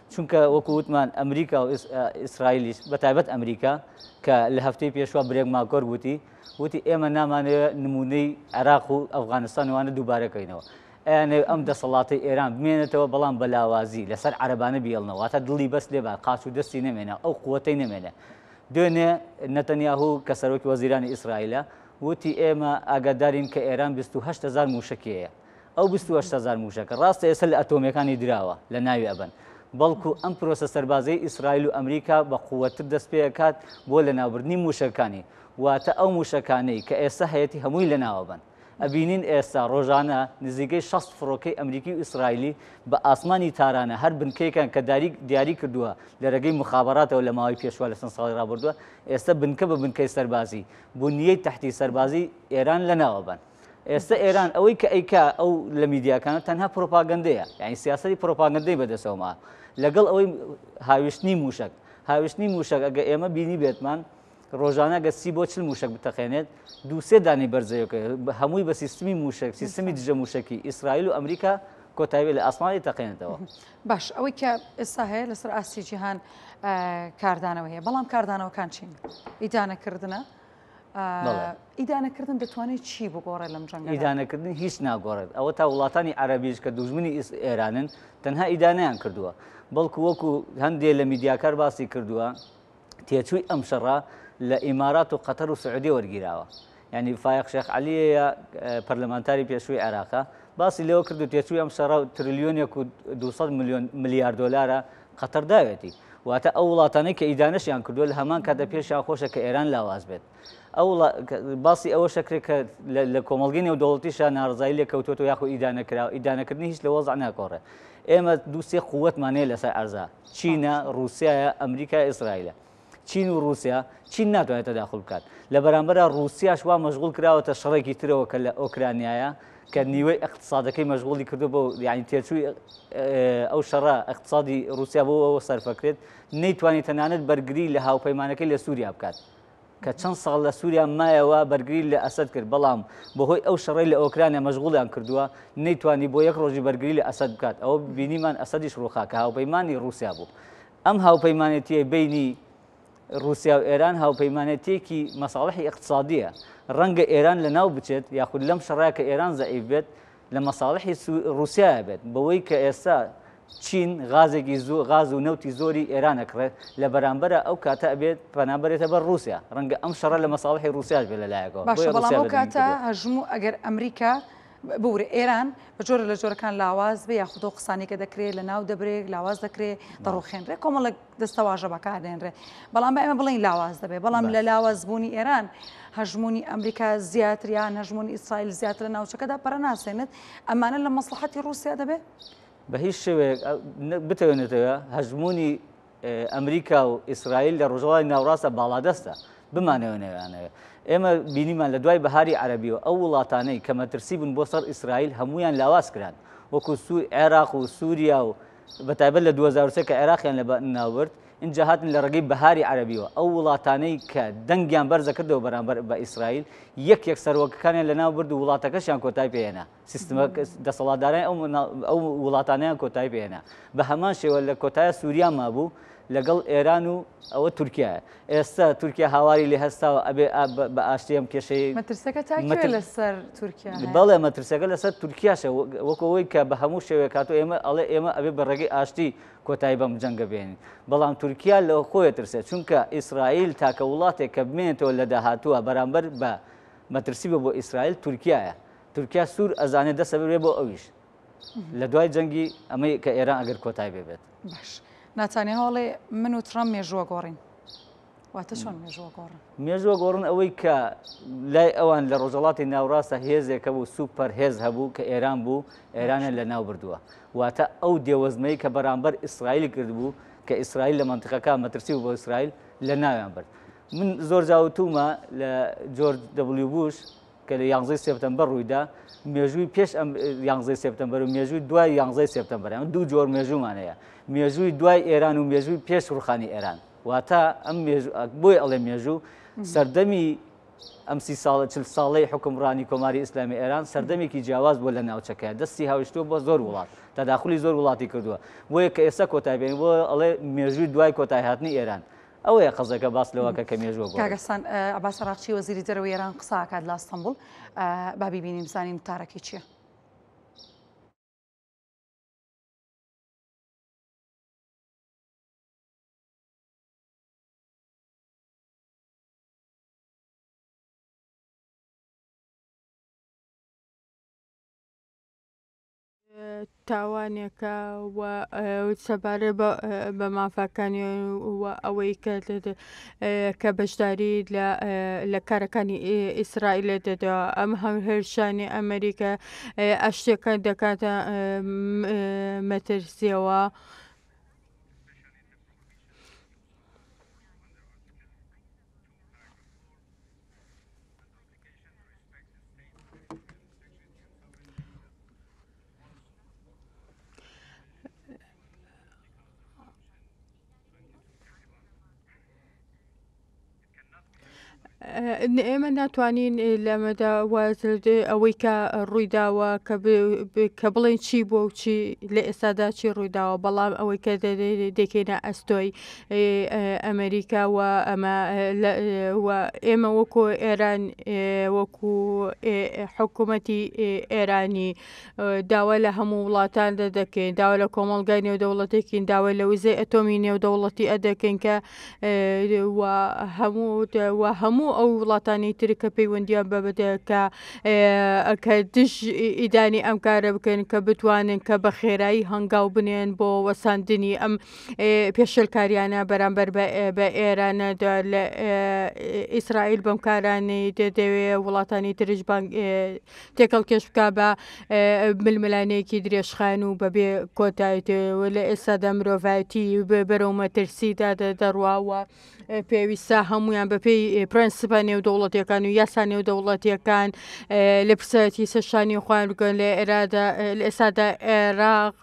چونکە وەکو وتمان ئەمریکا و ئیسرائیلیش بە تایبەت ئەمریکا کە لە هەفتەی پێشوە برێگ ماکۆر وتی وتی ئێمە نامانەوە نمونەی عێراق و ئەفغانستان وانە دووبارەکەینەوە ئەیانێ ئەم دەسەڵاتی ئێران بمێنێتەوە بەڵام بە لاوازی لەسەر عەرەبانە بیێڵنەوە تا دڵی بەس لێبان قاچ و دەستی نەمێنە ئەو قوتەی نەمێنێ دوێنێ نەتەنیاهو کە سەرۆکی وەزیرانی ئیسرائیلە وتی ئێمە ئاگادارین کە ئێران 28هزار موشکیەیە ئەو بیست و هەشت هەزار مووشەکە ڕاستە ئێستا لە ئەتۆمییەکانی دراوە لە ناوی ئەبەن، بەڵکو ئەم پرۆسە سەربازییەی ئیسرائیل و ئەمریکا بە قووەتتر دەست پێ ئەکات بۆ لەناوبردنی مووشەکەکانی، واتە ئەو مووشەکانەی کە ئێستا هەیەتی هەمووی لەناو ئەبەن. ئەبینین ئێستا ڕۆژانە نزیکەی شەست فڕۆکەی ئەمریکی و ئیسرائیلی بە ئاسمانی تارانە هەر بنکەیەکیان کە داریک دیاری کردووە لە رێگەی موخابەراتەوە لە ماوەی پێشووە لە چەند ساڵی ڕابردووە ئێستا بنکە بە بنکەی سەربازی بنیەی تحتی سەربازی ئێران لەناو ئەبەن. ئێستا ئێران ئەوەی کە ئەیکا ئەو لە میدیاکانە تەنها پرۆپاگەندەیە یعنی سیاستی پرۆپاگەندەی بەدەسەوەما لەگەڵ ئەوەی هاویشتنی موشک هاویشتنی موشک ئەگە ئێمە بینی بێتمان ڕۆژانە گە سی بۆ چل موشک بتەقێنێت دووسێ دانی بەرزەیەکە هەمووی بە سیستمی موشک سیستمی دژە موشکی ئیسرائیل و ئەمریکا کۆتایی لە ئاسمانی تەقێنێتەوە باش ئەوەی کە ئێستا هەیە لەسەر ئاستی جیهان کاردانەوە هەیە بەڵام کاردانەوەکان چین ئیدانەکردە. ئیدانەکردن دەتوانێت چی بگۆڕێت لەم جەنگ ئیدانەکردن هیچ ناگۆڕێت ئەوە تا وڵاتانی عەربیش کە دوژمنی ئێرانن تەنها ئیدانیان کردووە بەڵکو وەکو هەندێ لە میدیاکار باسی کردووە تێچووی ئەم شەڕە لە ئیمارات و قەتەر و سعودی وەرگیراوە ینی فایق شێخ علیە پەرلەمانتاری پێشووی عێراقە باسی لەوە کردو تێچووی ئەم شەڕە تریلیۆنێک و 200 میلیۆن ملیار دلارە قەتەر داوێتی، واتە ئەو وڵاتانەی کە ئیدانەشیان کردووە لە هەمان کاتدا پێشیان خۆشە کە ئێران لاواز بێت. ئەو وڵا... باسی ئەوەش ئەکرێت کە لە لە کۆمەڵگەی نێودەوڵەتیشا ناڕەزایی لێ کەوتووەتەوە یاخود ئیدانە کراوە، ئیدانەکردنی هیچ لە وەزع ناکۆڕێ. ئێمە دوو سێ قووەتمان هەیە لەسەر عەرزا، چینە، ڕووسیایە، ئەمریکایە، ئیسرائیلە. چین و ڕوسیا، چین ناتوانێت تەداخول بکات، لەبەرامبەرا ڕوسیاش وا مەشغوڵ کراوەتە شەڕێکی ترەوە کە لە ئۆکرانیایە کە نیوەی ئیقتسادەکەی مەشغوڵی کردوە بۆ یعنی تێچووی ئەو شەڕە ئیقتسادی ڕوسیا بۆ ئەوە سەرفەکرێت نەیتوانێت تەنانەت بەرگری لە هاوپەیمانەکەی لە سووریا بکات. کە چەند ساڵ لە سووریا مایەوە بەرگری لە ئەسەد کرد بەڵام بەهۆی ئەو شەڕی لە ئۆکرانیا مەشغوڵیان کردووە نەیتوانی بۆ یەک ڕۆژی بەرگری لە ئەسەد بکات ئەوە بینیمان ئەسەدیش ڕوخا کە هاوپەیمانی ڕوسیا بوو ئەم هاوپەیمانێتییەی بەینی ڕووسیا و ئێران هاوپەیمانێتییەکی مەساڵحی ئیقتسادییە، ڕەنگە ئێران لەناو بچێت یاخود لەم شەڕە کە ئێران زەعیف بێت لە مەساڵحی ڕووسیایە بێت بەوەی کە ئێستا چین غازێکی زۆ غاز و نەوتی زۆری ئێران ئەکڕێت لە بەرامبەرا ئەو کاتە ئەبێت پەنا بەرێتە بەر ڕووسیا ڕەنگە ئەم شەڕە لە مەساڵحی ڕووسیاش بێت لە لایەکەوە بۆیە باشە بەڵام ڕووسیا ئەو بەرگری کاتە کردووە. هەژموو ئەگەر ئەمریکا بوورە ئێران بە جۆرە لە جۆرەکان لاواز بێ یاخود ئەو قسانەی کە دەکرێت لە ناو دەبرێت لاواز دەکرێت دەڕوخێنرێت کۆمەڵک دەستەواژە بەکاردێنرێت بەڵام ئێمە بڵین لاواز دەبێت بەڵام لە لاوازبوونی ئێران هەژمونی ئەمریکا زیاتریان هەژمونی ئیسرائیل زیاتر لە ناوچەکەدا پەرەناسێنێت ئەمانە لە مەسلحەتی رووسیا دەبێت بە هیچ شێوەیەک بتوێنێتەوە هەژمونی ئەمریکا و ئیسرائیل لە ڕۆژەوای ناوڕاستدا باڵادەستە، بمانەوێ نەمانەوێ. ئێمە بینیمان لە دوای بەهاری عەرەبییەوە ئەو وڵاتانەی کە مەترسی بوون بۆ سەر ئیسرائیل هەموویان لاواز کران، وەکو عێراق و سوریا و بە تایبەت لە دوو هەزار و سێ کە عێراقیان لە ناو برد، ئینجا هاتن لە ڕێگەی بەهاری عەرەبییەوە ئەو وڵاتانەی کە دەنگیان بەرز دەکردەوە بەرامبەر بە ئیسرائیل یەک یەک سەرۆکەکانیان لە ناو برد و وڵاتەکەشیان کۆتای پێ هێنا. سیستمە دەسەڵاتدارانی ئەو منا ئەو وڵاتانەیان کۆتایی پێ هێنا. بە هەمان شێوە لە کۆتایە سووریا مابوو لەگەڵ ئێران و ئەوە تورکیایە. ئێستە تورکیا هاواری لێ هەستاوە ئەبێ ئا بە بە ئاشتی ئەم کێشەی مەترسەکە تا کوێ مەتر لەسەر تورکیا هەیە؟ بەڵێ مەترسەکە لەسەر تورکیاشە و وەکوو ئەوەی کە بە هەموو شێوەیەک هاتووە ئێمە ئەڵێ ئێمە ئەبێ بە ڕێگەی ئاشتی کۆتایی بەم جەنگە بێنین. بەڵام تورکیا لە خۆی ئەترسێ چونکە ئیسرائیل تاکە وڵاتێک کە بمێنێتەوە لە داهاتووە بەرامبەر بە مەترسی بە بۆ ئیسرائیل تورکیایە. تورکیا سور ئەزانێ دەسە بێ بۆ ئەویش لە دوای جەنگی ئەمەی کە ئێران ئەگەر کۆتای بێ بێت باش ناتانیا هەڵێ من و ترام مێژووە گۆڕین واتە چۆن مێژووە گۆڕن مێژووە گۆڕن ئەوەی کە لای ئەوان لە ڕۆژەڵاتی ناوڕاستە هێزێکە بوو سوپەر هێز هەبوو کە ئێران بوو ئێرانە لە ناو بردووە واتە ئەو دێوەزمەی کە بەرامبەر ئیسرائیلی کردبوو کە ئیسرائیل لە منتقەکە مەترسی و بۆ ئیسرائیل لە ناویان برد من زۆر جاوتومە لە جۆر دەبلی بوش کە لە یانزەی سێپتەمبەر ڕوویدا، مێژووی پێش ئەم یانزەی سێپتەمبەر و مێژووی دوای یانزەی سێپتەمبەر، ئەمە دوو جۆر مێژوومان هەیە، مێژووی دوای ئێران و مێژووی پێش ڕووخانی ئێران، واتە ئەم مێژوو، بۆیە ئەڵێم مێژوو، سەردەمی ئەم سی ساڵە چل ساڵەی حوکمڕانی کۆماری ئیسلامی ئێران سەردەمێکی جیاواز بووە لە ناوچەکە، دەستی هاویشتووە بۆ زۆر وڵات، تەداخولی زۆر وڵاتی کردووە، بۆیە کە ئێستا کۆتای پێ، بۆیە ئەڵێ مێژووی دوای کۆتایهاتنی ئێران، ئەوەیە قەزەکە باس لەوەکە کە مێژوە گۆڕی. کاک حسن عباس عراقچی وەزیری دەرەوەی ئێران قسە ئەکات لە ئەستەنبوڵ با بیبینین بزانین وتارەکەی چیە. تاوانێکە و سەبارەت بە مافەکانی و ئەوەی کە کە بەشداری لە کارەکانی ئیسرائیل دەدەوە ئەم هەم هێرشانی ئەمریکا ئەشتێکە دەکاتە مەترسیەوە. ئێمە ناتوانین لەمەدا ئەوەی کە ڕوویداوە کە بڵێن چی بۆ و چی لە ئێستادا چی ڕوویداوە بەڵام ئەوەی کە دەکەینە ئەستۆی ئەمریکا و ئەمە ئێمە وەکۆ ئێران وەکو حکوومەتی ئێرانی داوا لە هەموو وڵاتان دە دەکەین داوا لە کۆمەلگای نێودەوڵەتێکین داوای لە وزە ئەتۆمی نێودەوڵەتی ئە دەکەین کە هەموو هەموو ئەو وڵاتانی تر کە پەیوەندیان بە بدەکە کە دژ ئیدانی ئەم کارە بکەن کە بتوانن کە بە خێرایی هەنگاو بنێن بۆ وەساندنی ئەم پێشێلکاریانە بەرامبەر بە ئێرانەدا لە ئیسرائیل بەم کارانەی دەدەوێ وڵاتانی ترش تێکەڵ کێش بک بە ململانەیەکی درێژخان و بەبێ کۆتایتەوە لە ئێستادا مرۆڤایەتی بەرەو مەترسیدا دەڕواوە. پێویستە هەمویان بەپێی پرەنسپە نێودەوڵەتیەکان و یاسا نێودەوڵەتیەکان لە پرسایەتی سەرشانی خۆیان بکەن لە ئێرادا لە ئێستادا عێراق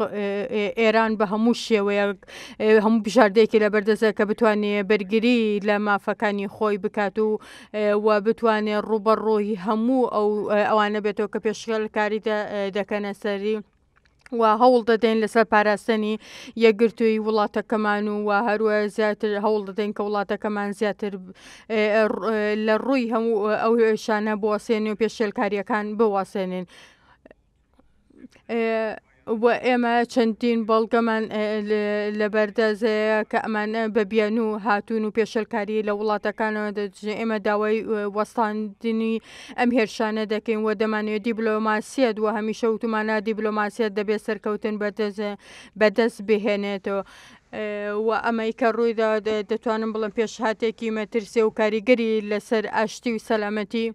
ئێران بە هەموو شێوەیەک هەموو بژاردەیەکی لە بەردەزە کە بتوانێ بەرگری لە مافەکانی خۆی بکات و و بتوانێ ڕوبەڕۆی هەموو ئەو ئەوانە بێتەوە کە پێشغلکاری دەکەنە سەری. و هەوڵ دەدەین لەسەر پاراستنی یەکگرتووی وڵاتەکەمان و و هەروە زیاتر هەوڵ دەدەین کە وڵاتەکەمان زیاتر لە ڕووی هەموو ئەو هێشانە بواسێنێ و پێشێلکاریەکان بواسێنین. و ئێمە چەندین بەڵگەمان لەبەردەزەیە کە ئەمانە بە بیان و هاتوون و پێشلکاری لە وڵاتەکانەوە دەجێ ئێمە داوای وەستاندنی ئەم هێرشانە دەکەین و دەمانەوێت دیبلۆماسیەت و هەمیشە وتومانە دیبلۆماسیەت دەبێت سەرکەوتن بەدەست بهێنێت و ئەمەی کە ڕوویدا دەتوانم بڵم پێشهاتێکی مەترسێ و کاریگەری لەسەر ئاشتی و سەلامەتی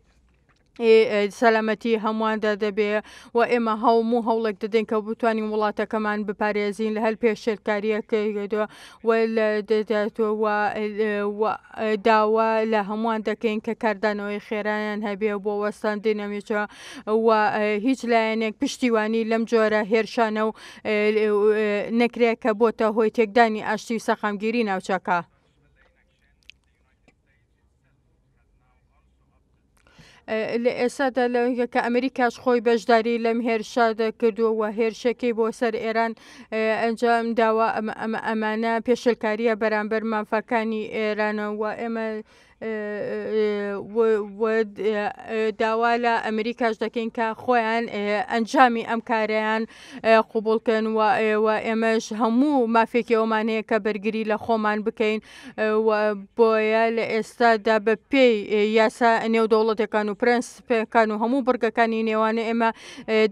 سەلامەتی هەموواندا دەبێ و ئێمە هەوم و هەوڵێک دەدەین کە بتوانین وڵاتەکەمان بپارێزین لە هەر پێشێلکاریەکەدووە و لە داوا لە هەمووان دەکەین کە کاردانەوەی خێرایان هەبێ بۆ وەستاندی نەمیچە و هیچ لایەنێک پشتیوانی لەم جۆرە هێرشانە و نەکرێت کە بۆتە هۆی تێکدانی ئاشتی و سەقامگیری ناوچەکە. لە ئێسادا لەگە کە ئەمریکاش خۆی بەشداری لەم هێرشە دەکردو و هێرشەکەی بۆ سەر ئێران ئەنجام داوە ئەمە ئەمانە پێشلکاریە بەرامبەر مافەکانی ئێرانە و ئێمە داوا لە ئەمریکاش دەکەین کە خۆیان ئەنجامی ئەم کارەیان قوبولکەن و ئێوە ئێمەش هەموو مافێکەوەمانەیە کە بەرگری لە خۆمان بکەین و بۆیە لە ئێستادا بە پێی یاسا نێودەوڵەتەکان و پرەنسپەکان و هەموو بڕگەکانی نێوانە ئێمە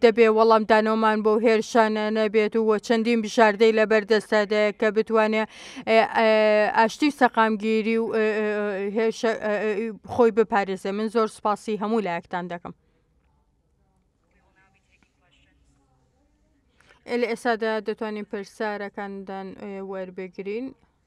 دەبێ وەڵامدانەوەمان بۆ هێرشانە نەبێت و چەندین بژاردەی لە بەردەستدایە کە بتوانێت ئاشتی و سەقامگیری و خۆی بپارێزێ من زۆر سپاسی هەموو لایەکتان دەکەم. لە ئێستادا دەتوانین پرسیارەکاندان وەربگرین.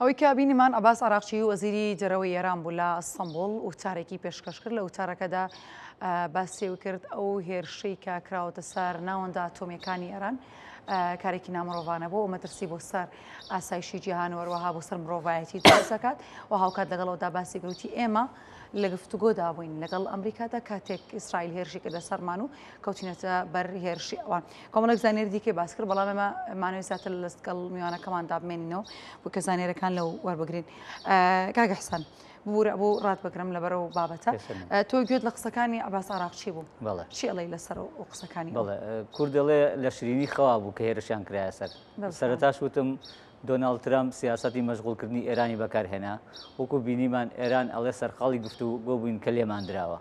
ئەوەی کە بینیمان عباس عراقچی وەزیری دەرەوەی ئێران بوو لە ئەستەمبول وتارێکی پێشکەش کرد لە وتارەکەدا باسیەوە کرد ئەو هێرشەی کە کراوەتە سار ناوەندا ئەتۆمیەکانی ئێران کارێکی نامرۆڤانە بۆ مەترسی بۆ سەر ئاسایشی جیهان وەروەها بۆ سەر مرۆڤایەتی دەسەکات و هاوکات لەگەڵەوەدا باسی گروتی ئێمە لە گفتوگۆدا بووین لەگەڵ ئەمریکادا کاتێک ئیسرائیل هێرشی کردە سەرمان و کەوتینەتە بەر هێرشی ئەوان کۆمەڵێک زانیاری دیکەی باس کرد بەڵام ئێمە مانەوەی زیاتر لە لەستگەڵ میوانەکەمان دابمێنینەوە بۆ کە زانێرەکان لەو وەربگرین کاگە حسان بورە بۆ ڕات بگرم لەبەر و بابەتە تۆ گوێت لە قسەکانی عباس عراقچی بوو چێڵی لەسەر و قسەکانی کوردڵێ لە شرینی خوا بوو کە هێرشیان کرایە سەر سەرتاش وتم دۆناڵ ترامپ سیاستی مەشغولکردنی ئێرانی بەکارهێنا وەکو بینیمان ئێران ئەڵێ سەرقاڵی گفتو گۆ بووین کە لێمان درراوە.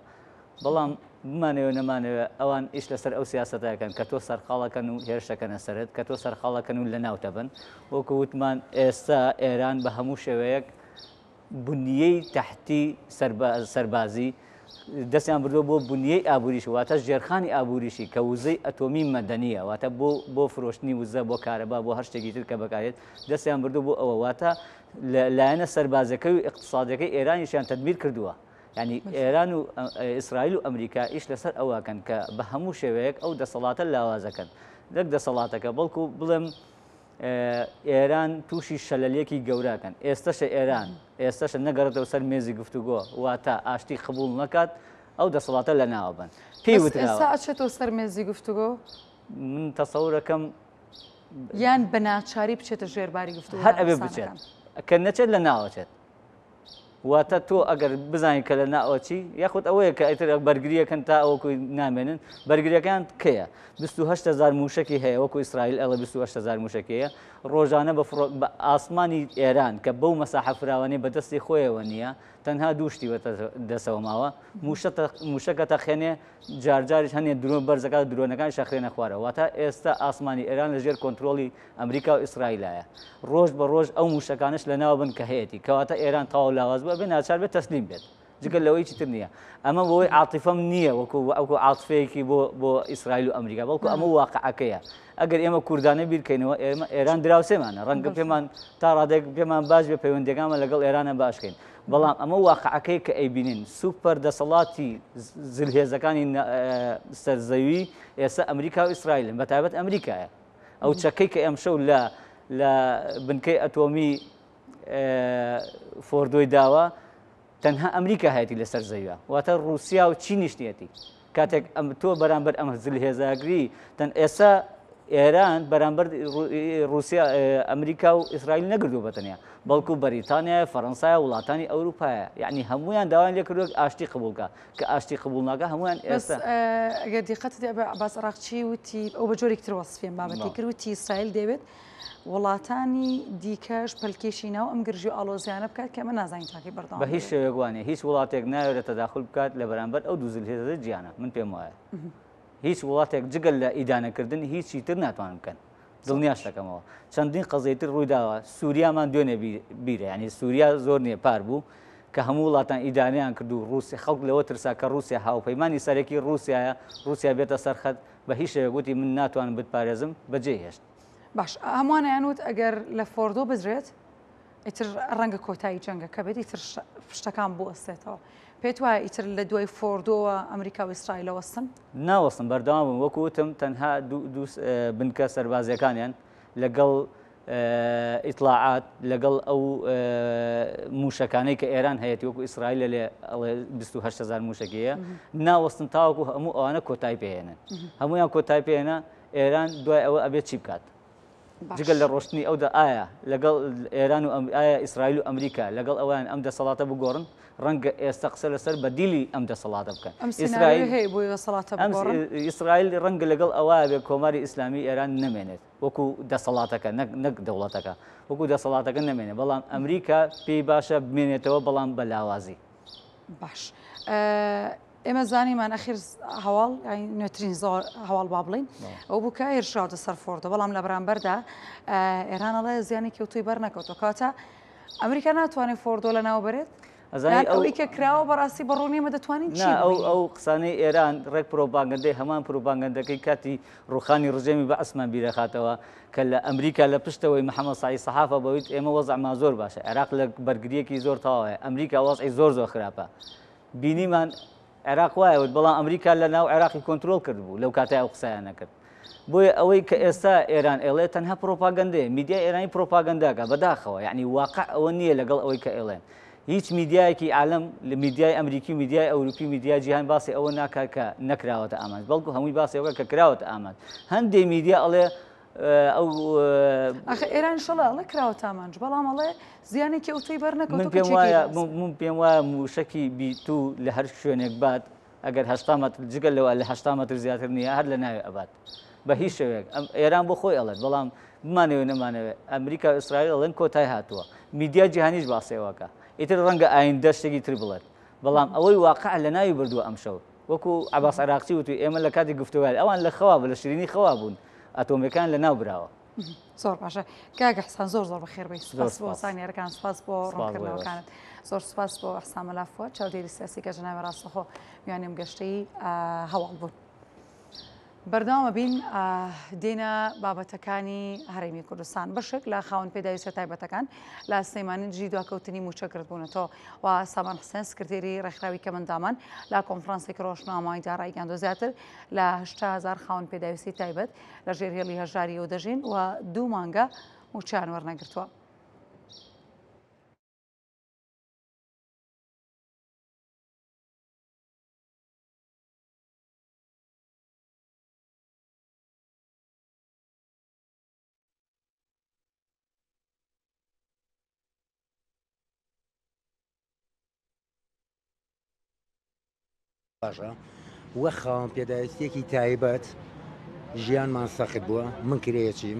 بەڵام بمانەوێ نەمانەوێ ئەوان ئیش لەسەر ئەو سیاسەتە ئەکەن کە تۆ سەرقاڵ ئەکەن و هێرش ئەکەنە سەرت، کە تۆ سەرقاڵ ئەکەن و لەناوت ئەبەن. وەکو وتمان ئێستا ئێران بە هەموو شێوەیەک بنیەی تەحتی سەربازی دەستیان بردووە بۆ بنیەی ئابووریی، واتە ژێرخانی ئابووریی کە وزەی ئەتۆمی مەدەنییە، واتە بۆ بۆ فرۆشتنی وزە، بۆ کارەبا، بۆ هەر شتێکی تر کە بەکار دێت، دەستیان بردووە بۆ ئەوە. واتە لایەنە سەربازییەکەی و ئیقتسادییەکەی ئێرانیشیان تەدمیر کردووە. یانی ئێران و ئیسرائیل و ئەمریکا ئیش لەسەر ئەوەکەن کە بە هەموو شێوەیەک ئەو دەسەڵاتە لاوازەکەن نەک دەسەڵاتەکە بەڵکو بڵێم ئێران تووشی شەلەلێکی گەوراکەن ئێستەشە ئێران ئێستەشە نەگەڕێتەوە سەر مێزی گفتوگۆ واتە ئاشتی قبول نەکات ئەو دەسەڵاتە لە ناوە بن پێی وتراچێتەوە سەر مێزی گفتوگۆ من تەسەورەکەم یان بە ناچاری بچێتە ژێرباری گفتو هەر ئەبێ بچێت کە نەچێت لە ناوەچێت واتە تۆ ئەگەر بزانیت کە لە ناوە چی یاخود ئەوەیە کە ئیتر بەرگریەکەن تا ئەوکو نامێنن بەرگریەکان کەیە 28 هزار موشکی هەیە وەکو ئیسرائیل ئەڵە 28 هزار موشکەیە ڕۆژانە بە فڕۆ بە ئاسمانی ئێران کە بەو مەساحە فراوانەی بەدەستی خۆیەوە نییە تەنها دووشتی وەتە دەسەوە ماوە موشەکە تەخێنێ جارجاریش هەنێ درۆن بەرزەکە درۆنەکان شەخرێنە خوارەوە واتە ئێستا ئاسمانی ئێران لەژێر کۆنتترۆلی ئەمریکا و ئیسرائیلایە ڕۆژ بە ڕۆژ ئەو موشەکانەش لەناو بن کە هەیەتی کەواتە ئێران تەواو لاواز بوو ئەبێ ناچار بێت تەسلیم بێت جگە لەوەی چی تر نییە ئەمە بۆی عاتیفەم نییە وەکو ئەوکو عاتفەیەکی بۆ بۆ ئیسرائیل و ئەمریکا بەڵکو ئەمە واقعەکەیە ئەگەر ئێمە کوردانە بیرکەینەوە ئێمە ئێران دراوسێمانە ڕەنگە پێمان تا ڕادێک پێمان باش بێ پەیوەندەکانمان لەگەڵ ئێرانە باشکەین بەڵام ئەمە واقعەکەی کە ئەیبینین سوپەر دەسەڵاتی زلهێزەکانی سەرزەوی ئێستا ئەمریکا و ئیسرائیلن بە تایبەت ئەمریکایە ئەو چەکەی کە ئەمشەو لە لە بنکەی ئەتۆمی فۆردۆی داوە تەنها ئەمریکا هەیەی لەسەر زەویە واتە رووسیا و چی نیشتێتی کاتێک ئەم تۆ بەرامبەر ئەمە زل هێزاگری تەن ئێستا ئێران بەرامبەر رووسیا ئەمریکا و ئیسرائیل نەگردو بەتەنیا بەڵکو بەریتانیا فەەنسای وڵاتانی ئەوروپایە یعنی هەمویان داوایان لێکردوک ئاشتی قبولکە کە ئاشتی قبوڵ ناکا هەموان ئێستا. بەس ئەگەر دیقەتت یابێ عەباس عەراقچی وتی ئەو بە جۆرێکی تر وەسفیان بابەتی کرد وتی ئیسرائیل دەیەوێت وڵاتانی دیکەش پەلکێشی ناو ئەم گرژی و ئاڵۆزیانە بکات کە ئەمە نازانین تاکەی بەردەوام بە هیچ دەبێت. شێوەیەک وانە هیچ وڵاتێک نایەوێت تەداخول بکات لە بەرامبەر ئەو دوو زلهێزە جیانە من پێم وایە هیچ وڵاتێک جگە لە ئیدانەکردن هیچی تر ناتوانن بکەن دڵنیاش دەکەمەوە چەندین قەزیەی تر ڕووی داوە سووریامان دوێنێ بیرە یانی سووریا زۆر نییە پار بوو کە هەموو وڵاتان ئیدانەیان کرد و ڕووسی خەڵک لەوە ترسا کە ڕووسیا هاوپەیمانی سەرەکی ڕووسایە ڕووسیا بێتە سەرخەت بە هیچ شێوێک وتی من ناتوانم بتپارێزم بەجێی هێشت. باش هەمووانیان وت ئەگەر لە فۆردۆ بدرێت، ئیتر ڕەنگە کۆتایی جەنگەکە بێت ئیتر شتەکان بوەستێتەوە پێت وایە ئیتر لە دوای فۆردۆوە ئەمریکا و ئیسرائیلە وەستن ناوەستن بەردەوام بوون وەکو وتم تەنها بنکە سەربازیەکانیان لەگەڵ ئیتلاعات لەگەڵ ئەو موشەکانەی کە ئێران هەیەی وەکو ئیسرائیل لە لێ 1970هزار موشەکەیە ناوەستن تاوەکو هەموو ئەوانە کۆتای پێێنن هەمویان کۆتای پێێنە ئێران دوای ئەوە ئەبێت چی بکات جگە لە ڕۆشتنی ئەودا ئایا لەگەڵ ئێران و ئەم- ئایا ئیسرائیل و ئەمریکا لەگەڵ ئەوەیان ئەم دەسەڵاتە بگۆڕن؟ ڕەنگە ئێستا قسە لەسەر بەدیلی ئەم دەسەڵاتە بکەن. ئەم سیناریۆی ئیسرائیل- هەیە بۆی دەسەڵاتە ئەم س- بگۆڕن؟ ئیسرائیل ڕەنگە لەگەڵ ئەوە بێ کۆماری ئیسلامی ئێران نەمێنێت وەکو دەسەڵاتەکە، نەک نەک دەوڵەتەکە، وەکو دەسەڵاتەکە نەمێنێت، بەڵام ئەمریکا پێی باشە بمێنێتەوە بەڵام بە لاوازی. باش. ئە، ئێمە زانیمان ئەخیر هەواڵ نوێترین زۆر هەواڵ با بڵین ئەو بوو کە هێرشراوتە سەر فۆردە بەڵام لە بەرامبەردا ئێرانەڵێ زیانی کەوتوی بەر نەکەوتەوە کاتە ئەمریکا ناتوانێت فۆردۆ لە ناو بەرێت ئەوەی کە کراوە بەڕاستی بەڕوونیمە دەتوانین ئەو ئەو قسانەی ئێران ڕێک پرۆپاگەندەی هەمان پرۆپاگەندەکەی کاتی ڕوخانی ڕژێمی بە ئەسمان بیرەخاتەوە کە لە ئەمریکا لە پشتەوەی محەممە سای سەحافە بەویت ئێمە وەزعمان زۆر باشە عێراق لە بەرگریەکی زۆر تەواوەیە ئەمریکا وەزعی زۆر زۆر خراپە بینیمان عێراق وایە وت بەڵام ئەمریکا لە ناو عێراقی کۆنترۆڵ کردبوو لەو کاتە ئەو قسەیان نەکرد بۆیە ئەوەی کە ئێستا ئێران ئێڵێ تەنها پرۆپاگەندەیە میدیای ئێرانی پرۆپاگەنداکە بەداخەوە یعنی واقع ئەوە نییە لەگەڵ ئەوەی کە ئێڵێن هیچ میدیایەکی عالم لە میدیای ئەمریکی و میدیای ئەوروپی میدیای جیهان باسی ئەوە ناکات کە نەکراوەتە ئامانج بەڵکو هەمووی باسی ئەوە کە کراوەتە ئامانج هەندێک میدیا ئەڵێ ئەخە ئێران شڵە ئەڵە کراوە تامانج بەڵام ئەڵێ زیانێکی ئەو توی بەرنەکەم پێم وایە من پێم وایە موشەکی بیت و لە هەر شوێنێک بات ئەگەر هەشتا مەتر جگەل لەوە لە هەشتا مەتر زیاتر نییە هەر لە ناوێ ئەبات بە هیچ شوێک ئەم ئێران بۆ خۆی ئەڵێت بەڵام بمانەوە نەمانەوە ئەمریکا و ئیسرائیل ئەڵێن کۆتای هاتووە میدیا جیهانیش باسێوەکە ئیتر ڕەنگە ئایندە شتێکی تر بڵێت بەڵام ئەوەی واقع لە ناوی بردووە ئەمشەوت وەکو عەباس عراقچی وتوی ئێمە لە کاتی گفتوگۆیان ئەوان لە خەوا بوون لە شیرینی خەوا بوون ئەتۆمیەکان لە ناو براوە. زۆر باشە کاک حسان زۆر زۆر بەخێر بی سپاس بۆ سانیارەکان سپاس بۆ ڕوونکردنەوەکانت زۆر سپاس بۆ حسان مەلافوە چاودێری سیاسی کە جناوی ڕاستەخۆ میانیم گەشتەی هەواڵ بوون. بەردەوام ئەبین دێینە بابەتەکانی هەرێمی کوردستان بەشێک لە خاون پێداویستە تایبەتەکان لە سلەیمانی دژی دواکەوتنی موچە کردبوونەتەوە و سامان حسێن سکرتێری ڕێکخراوی کەمەندامان لە کۆنفرانسێک ڕۆژنامەوانیدا ڕایگەاندۆ زیاتر لە هزار خاون پێداویستی تایبەت لە ژێر هێڵی هەژاری و دەژین و دوو مانگە موچیان وەرنەگرتووە. باشە وە خاوەن پێداویستێکی تایبەت ژیانمان سەخت بووە من کرێچیم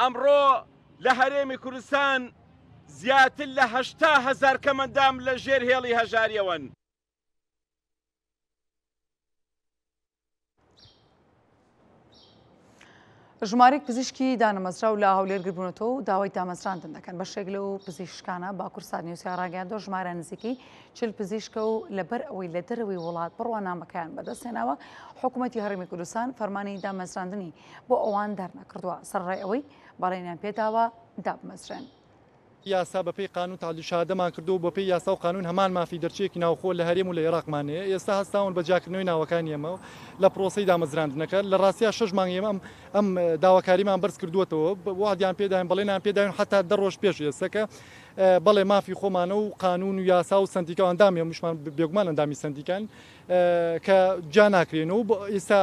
ئەمڕۆ لە هەرێمی کوردستان زیاتر لە هەشتا هەزار کەمەندام لە ژێر هێڵی هەژارییەوەن. ژمارەیەک پزیشکی دانەمەزراو لە هەولێر گربوونەتەوە و داوای دامەزراندن دەکەن بەشێک لەو پزیشکانە باکورسات نیوسیا ڕاگەیاندۆ ژمارە نزیکەی چل پزیشکە و لەبەر ئەوەی لە دەرەوەی وڵات بڕوانامەکەیان بەدەستێناوە حکوومەتتی هەڕمی کوردستان فەرمانی دامەزراندنی بۆ ئەوان دەرنەکردووە سەرڕای ئەوەی بەڵێنیان پێداوە دابمەزرێن. یاسا بە پێی قانون تەعدیل شەهادەمان کردووە و بە پێی یاسا و قانون هەمان مافی دەرچوویەکی ناوخۆ لە هەرێم و لە ئێراقمان هەیە، ئێستا هەستاون بە جیاکردنەوەی ناوەکانی ئێمە لە پرۆسەی دامەزراندنەکە، لە ڕاستیا شەش مانگ ئێمە ئەم ئەم داواکاریمان بەرز کردووەتەوە، وەعدیان پێداین بەڵێنیان پێداین حەتا دە ڕۆژ پێش ئێستەکە بەڵێ مافی خۆمانە و قانون و یاسا و سەندیکا و ئەندامی هەمووشمان بێگومان ئەندامی سەندیکاین. کە جیا ناکرێن و ئیستا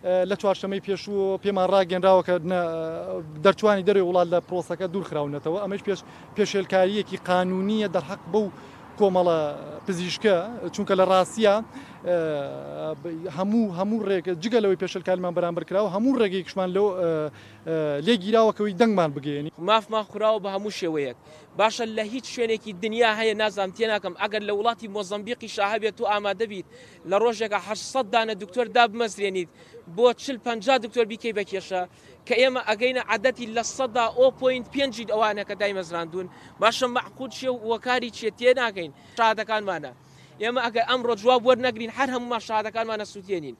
لە چوارشەمەی پێشوو پێمان ڕاگەنراوە کە دەرچوانی دەرەوەی وڵات لە پرۆسەکە دوورخراونەتەوە ئەمەش پێش پێشێلکاریەکی قانونیە دەرحەق بەو کۆمەڵە پزیشکە چونکە لە ڕاستە هەموو هەموو ڕێگە جگە لەوەی پێشلکارمان بەرامبەر کراوە هەموو ڕێگەیکشمان لەو لێگیراوەکەوەی دەنگمان بگەێنی مافمان خوراوە بە هەموو شێوەیەک باشە لە هیچ شوێنێکی دنیا هەیە نازانم تێناکەم ئەگەر لە وڵاتی مۆزەمبیقیشا هەبێت تۆ ئامادەبیت لە ڕۆژێکا هەشت سەد دانە دکتۆر دابمەزرێنیت بۆ چل پەنجا دکتۆر بیکەی بە کێشە کە ئێمە ئەگەینە عەدەتی لە سەدا ئۆ پۆینت پێنجی ئەوانە کە دایمەزراندوون باشە مەعقول چیە و کاری چیە تێناگەین شادەکانمانە ئێمە ئەگەر ئەمڕۆ جواب وەرنەگرین هەر هەموومان شادەکانمانە سووتێنین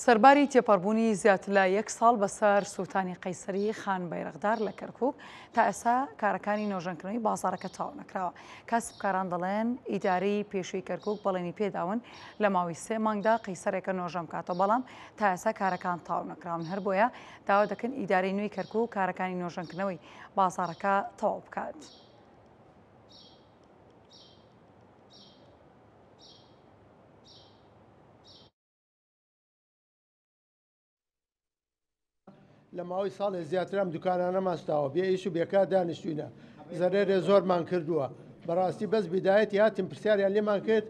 سەرباری تێپەڕبوونی زیاتر لە یەک ساڵ بەسەر سووتانی قەیسەری خان بەیرەغدار لە کەرکک تا ئێسا کارەکانی نۆژەنکردنەوەی بازارەکە تاو نەکراوە کاسبکاران دەڵێن ئیداری پێشوی کەرکک بەڵێنی پێداون لە ماوەی سێ مانگدا قەیسەرێکە نۆژەم کاتە بەڵام تا ئێسا کارەکان تاو نەکراون هەر بۆیە داوا دەکەن ئیداری نوێی کەرکک کارەکانی نۆژەنکردنەوەی بازارەکە تەواو بکات. لە ماوەی ساڵێ زیاتر ئەم دوکانانە ماستاوە بێ ئیش و بێکار دانیشتوینە زەرێرێ زۆرمان کردووە بەڕاستی بەس بدایەتی هاتیم پرسیاریان لێمان کرد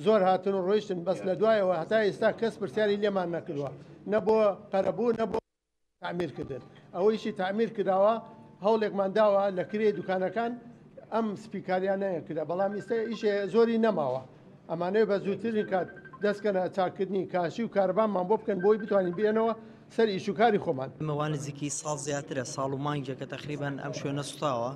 زۆر هاتن و ڕۆیشتن بەس لە دوایەوە هەتا ئێستا کەس پرسیاری لێمان نەکردووە نە بۆ قەرەبوو نە بۆ تعمیر کردن ئەوەیشی تعمیر کراوە هەوڵێکمان داوە لە کرێ دوکانەکان ئەم سپیکاریانەیە کرا بەڵام ئیستا ئیشێ زۆری نەماوە ئەمانەیە بە زووترین کات دەستکەنە چاکردنی کاشی و کاربانمان بۆ بکەن بۆی بتوانین بێنەوە سەر ئیشوکاری خۆمان ئەمەوان نزیکی ساڵ زیاترە ساڵ و مانگێک کە تەخریبان ئەم شوێنە سوتاوە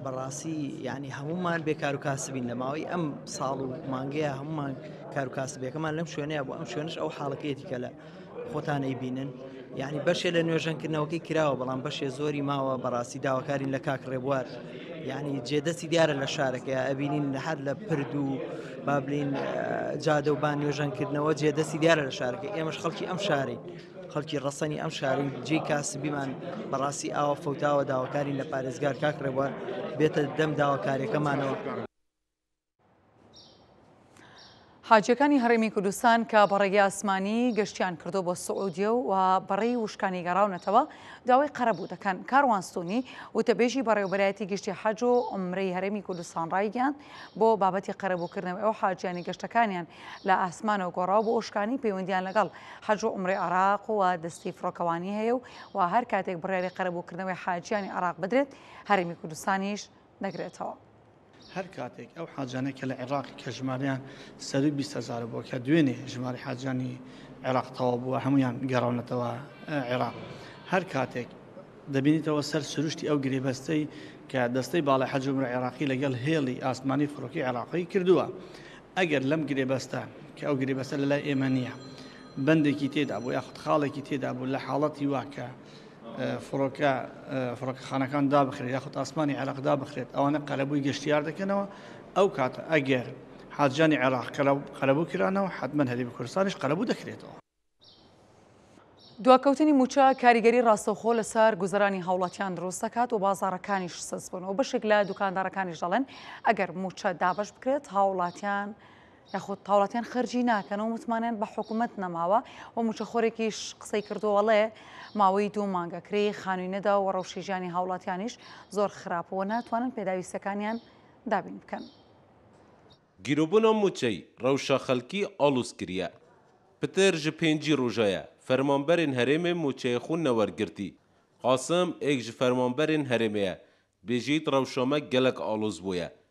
بەڕاستی یعنی هەمومان بێ کار و کاسبین لە ماوەی ئەم ساڵ و مانگەیە هەمومان کار و کاسبێکەمان لەم شوێنەیە بۆ ئەم شوێنش ئەو حاڵەتێتی کە لە خۆتان ئەیبینن یعنی بەشێ لە نوێژەنکردنەوەکەی کراوە بەڵام بەشێ زۆری ماوە بەڕاستی داواکارین لە کاک ڕێبوار یعنی جێدەستی دیارە لە شارەکە ئەبینین هەر لە پرد و بابلین جادە و بان نوێژەنکردنەوە جێدەستی دیارە لە شارەکە ئێمەش خەڵکی ئەم شاری خەڵکی ڕەسەنی ئەم شاری جێ کاسبیمان بەڕاستی ئاوە فەوتاوە داواکارین لە پارێزگار کاک ڕێبوار بێتە دەم داواکاریەکەمانەوە. حاجیەکانی هەڕێمی کوردستان کە بە ڕێگەی ئاسمانی گەشتیان کردو بۆ سعودیە و بەڕێی وشکانی گەڕاونەتەوە داوای قەرەبوو دەکەن کاروانستونی وتەبێژی بەڕێوبەرایەتی گشتی حەج و عمرەی هەرێمی کوردستان ڕایگەیاند بۆ بابەتی قەرەبووکردنەوەی ئەو حاجیانی گەشتەکانیان لە ئاسمانەوە گۆڕاو بۆ وشکانی پەیوەندیان لەگەڵ حەج و عمرەی عراق و دەستی فڕۆکەوانی هەیە و هەر کاتێک بڕیاری قەرەبووکردنەوەی حاجیانی عراق بدرێت هەرێمی کوردستانیش دەگرێتەوە. هەر کاتێک ئەو حاجیانەی کە لە عێراقی کە ژمارەیان سەرووی بیست هەزار بووە کە دوێنێ ژمارەی حاجیانی عێراق تەواو بووە هەمویان گەڕاونەتەوە عێراق هەر کاتێک دەبینیتەوە سەر سروشتی ئەو گرێبەستەی کە دەستەی باڵی حەجمرە عێراقی لەگەڵ هێڵی ئاسمانی فڕۆکی عێراقی کردووە ئەگەر لەم گرێبەستە کە ئەو گرێبەستە لە لای ئێمە نییە بەندێکی تێدا بوو یاخود خاڵێکی تێدا بوو لە حاڵەتی واکە فڕۆکە فڕۆکەخانەکان دابخرێت یاخود ئاسمانی عێراق دابخرێت ئەوانە قەرەبووی گەشتیار دەکەنەوە ئەو کاتە ئەگەر حاجانی عێراق قەرەبوو کرانەوە حتمما هەری بە کوردستانیش قەرەبوو دەکرێتەوە. دواکەوتنی مووچە کاریگەری ڕاستەوخۆ لەسەر گوزەرانی هاوڵاتیان دروست دەکات و بازاڕەکانیش سست بوون و بەشێک لە دوکاندارەکانیش دەڵێن ئەگەر مووچە دابەش بکرێت هاوڵاتیان یاخود هاوڵاتیان خەرجی ناکەن و متمانەیان بە حکومەت نەماوە و موچەخۆرێکیش قسەی کردووە ڵێ ماوەی دوو مانگە کرێی خانووی نەداوە و ڕەوشی ژیانی هاوڵاتیانیش زۆر خراپەوە ناتوانن پێداویستەکانیان دابین بکەن. گیروبونا موچەی رەوشە خەلکی ئاڵوز کریە. پتر ژ پێنجی روژەیە فەرمانبەرێن هەرێمێ موچەێ خو نەوەرگرتی. قاسم ئێک ژ فەرمانبەرێن هەرێمێە دبێژیت رەوشامە گەلەک ئاڵوز بویە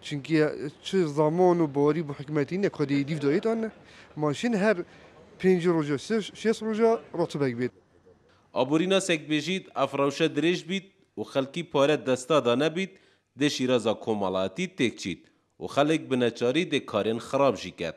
چونکی چ زامان و باری بو حکومەتی نە کادەی دیف دایێتان نە ماشین هەر پێنج روژە شێس روژە راتبەگ بێت. ئابوریناسێک بژیت ئەف رەوشە درێژ بیت و خەلکی پارە دەستا دا نەبیت دێ شیرازا کۆمەڵاتی تێک چیت و خەلک بنەچاری دێ کارێن خراب ژی کەت.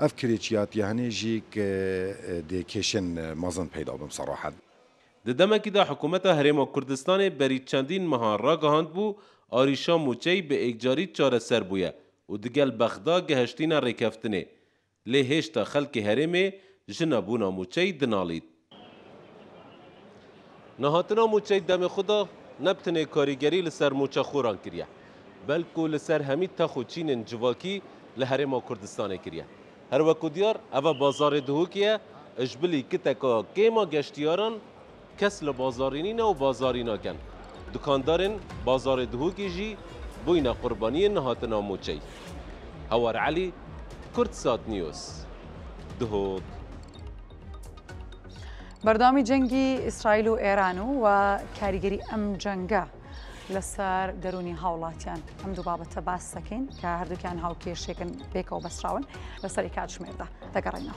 ئەڤ کرێچیاتیە هەنێ ژیک دێ کێشێن مەزن پەیدا بم سەڕاحەت. د دەمەکی دا حکوومەتا هەرێما کوردستانێ بەری چەندین مەها راگەهاند بوو ئاریشا مووچەیی بە ئێکجاری چارەسەر بوویە و دگەل بەغدا گەهشتینە رێکەفتنێ، لێ هێشتا خەلکێ هەرێمێ ژنا بوونا مووچەیی دناڵیت. نەهاتنا مووچەی دەمێ خودا نەب تنێ کاریگەری لە سەر مووچەخۆران کریە، بەلکو لە سەر هەمی تەخ و چینێن جڤاکی لە هەرێما کوردستانێ کریە. هەر وەکو دیار ئەڤە بازاڕێ دهوکیە، ژبلی کتەکا کێما گەشتیاران کەس لە بازاڕی نینە و بازاڕی ناکەن. دکاندارێن بازاڕێ دهوکی ژی بوینە قوربانیێ نەهاتنا مووچەی. هەوار عەلی، کوردسات نیوز، دهۆک. بەردەوامی جەنگی ئیسرائیل و ئێران و و کاریگەری ئەم جەنگە لەسەر دەرونی هاوڵاتیان ئەم دوو بابەتە باس دەکەین کە هەردووکیان هاوکێشێکن پێکەوە بەسراون لەسەری کاتژمێردا دەگەڕێنەوە.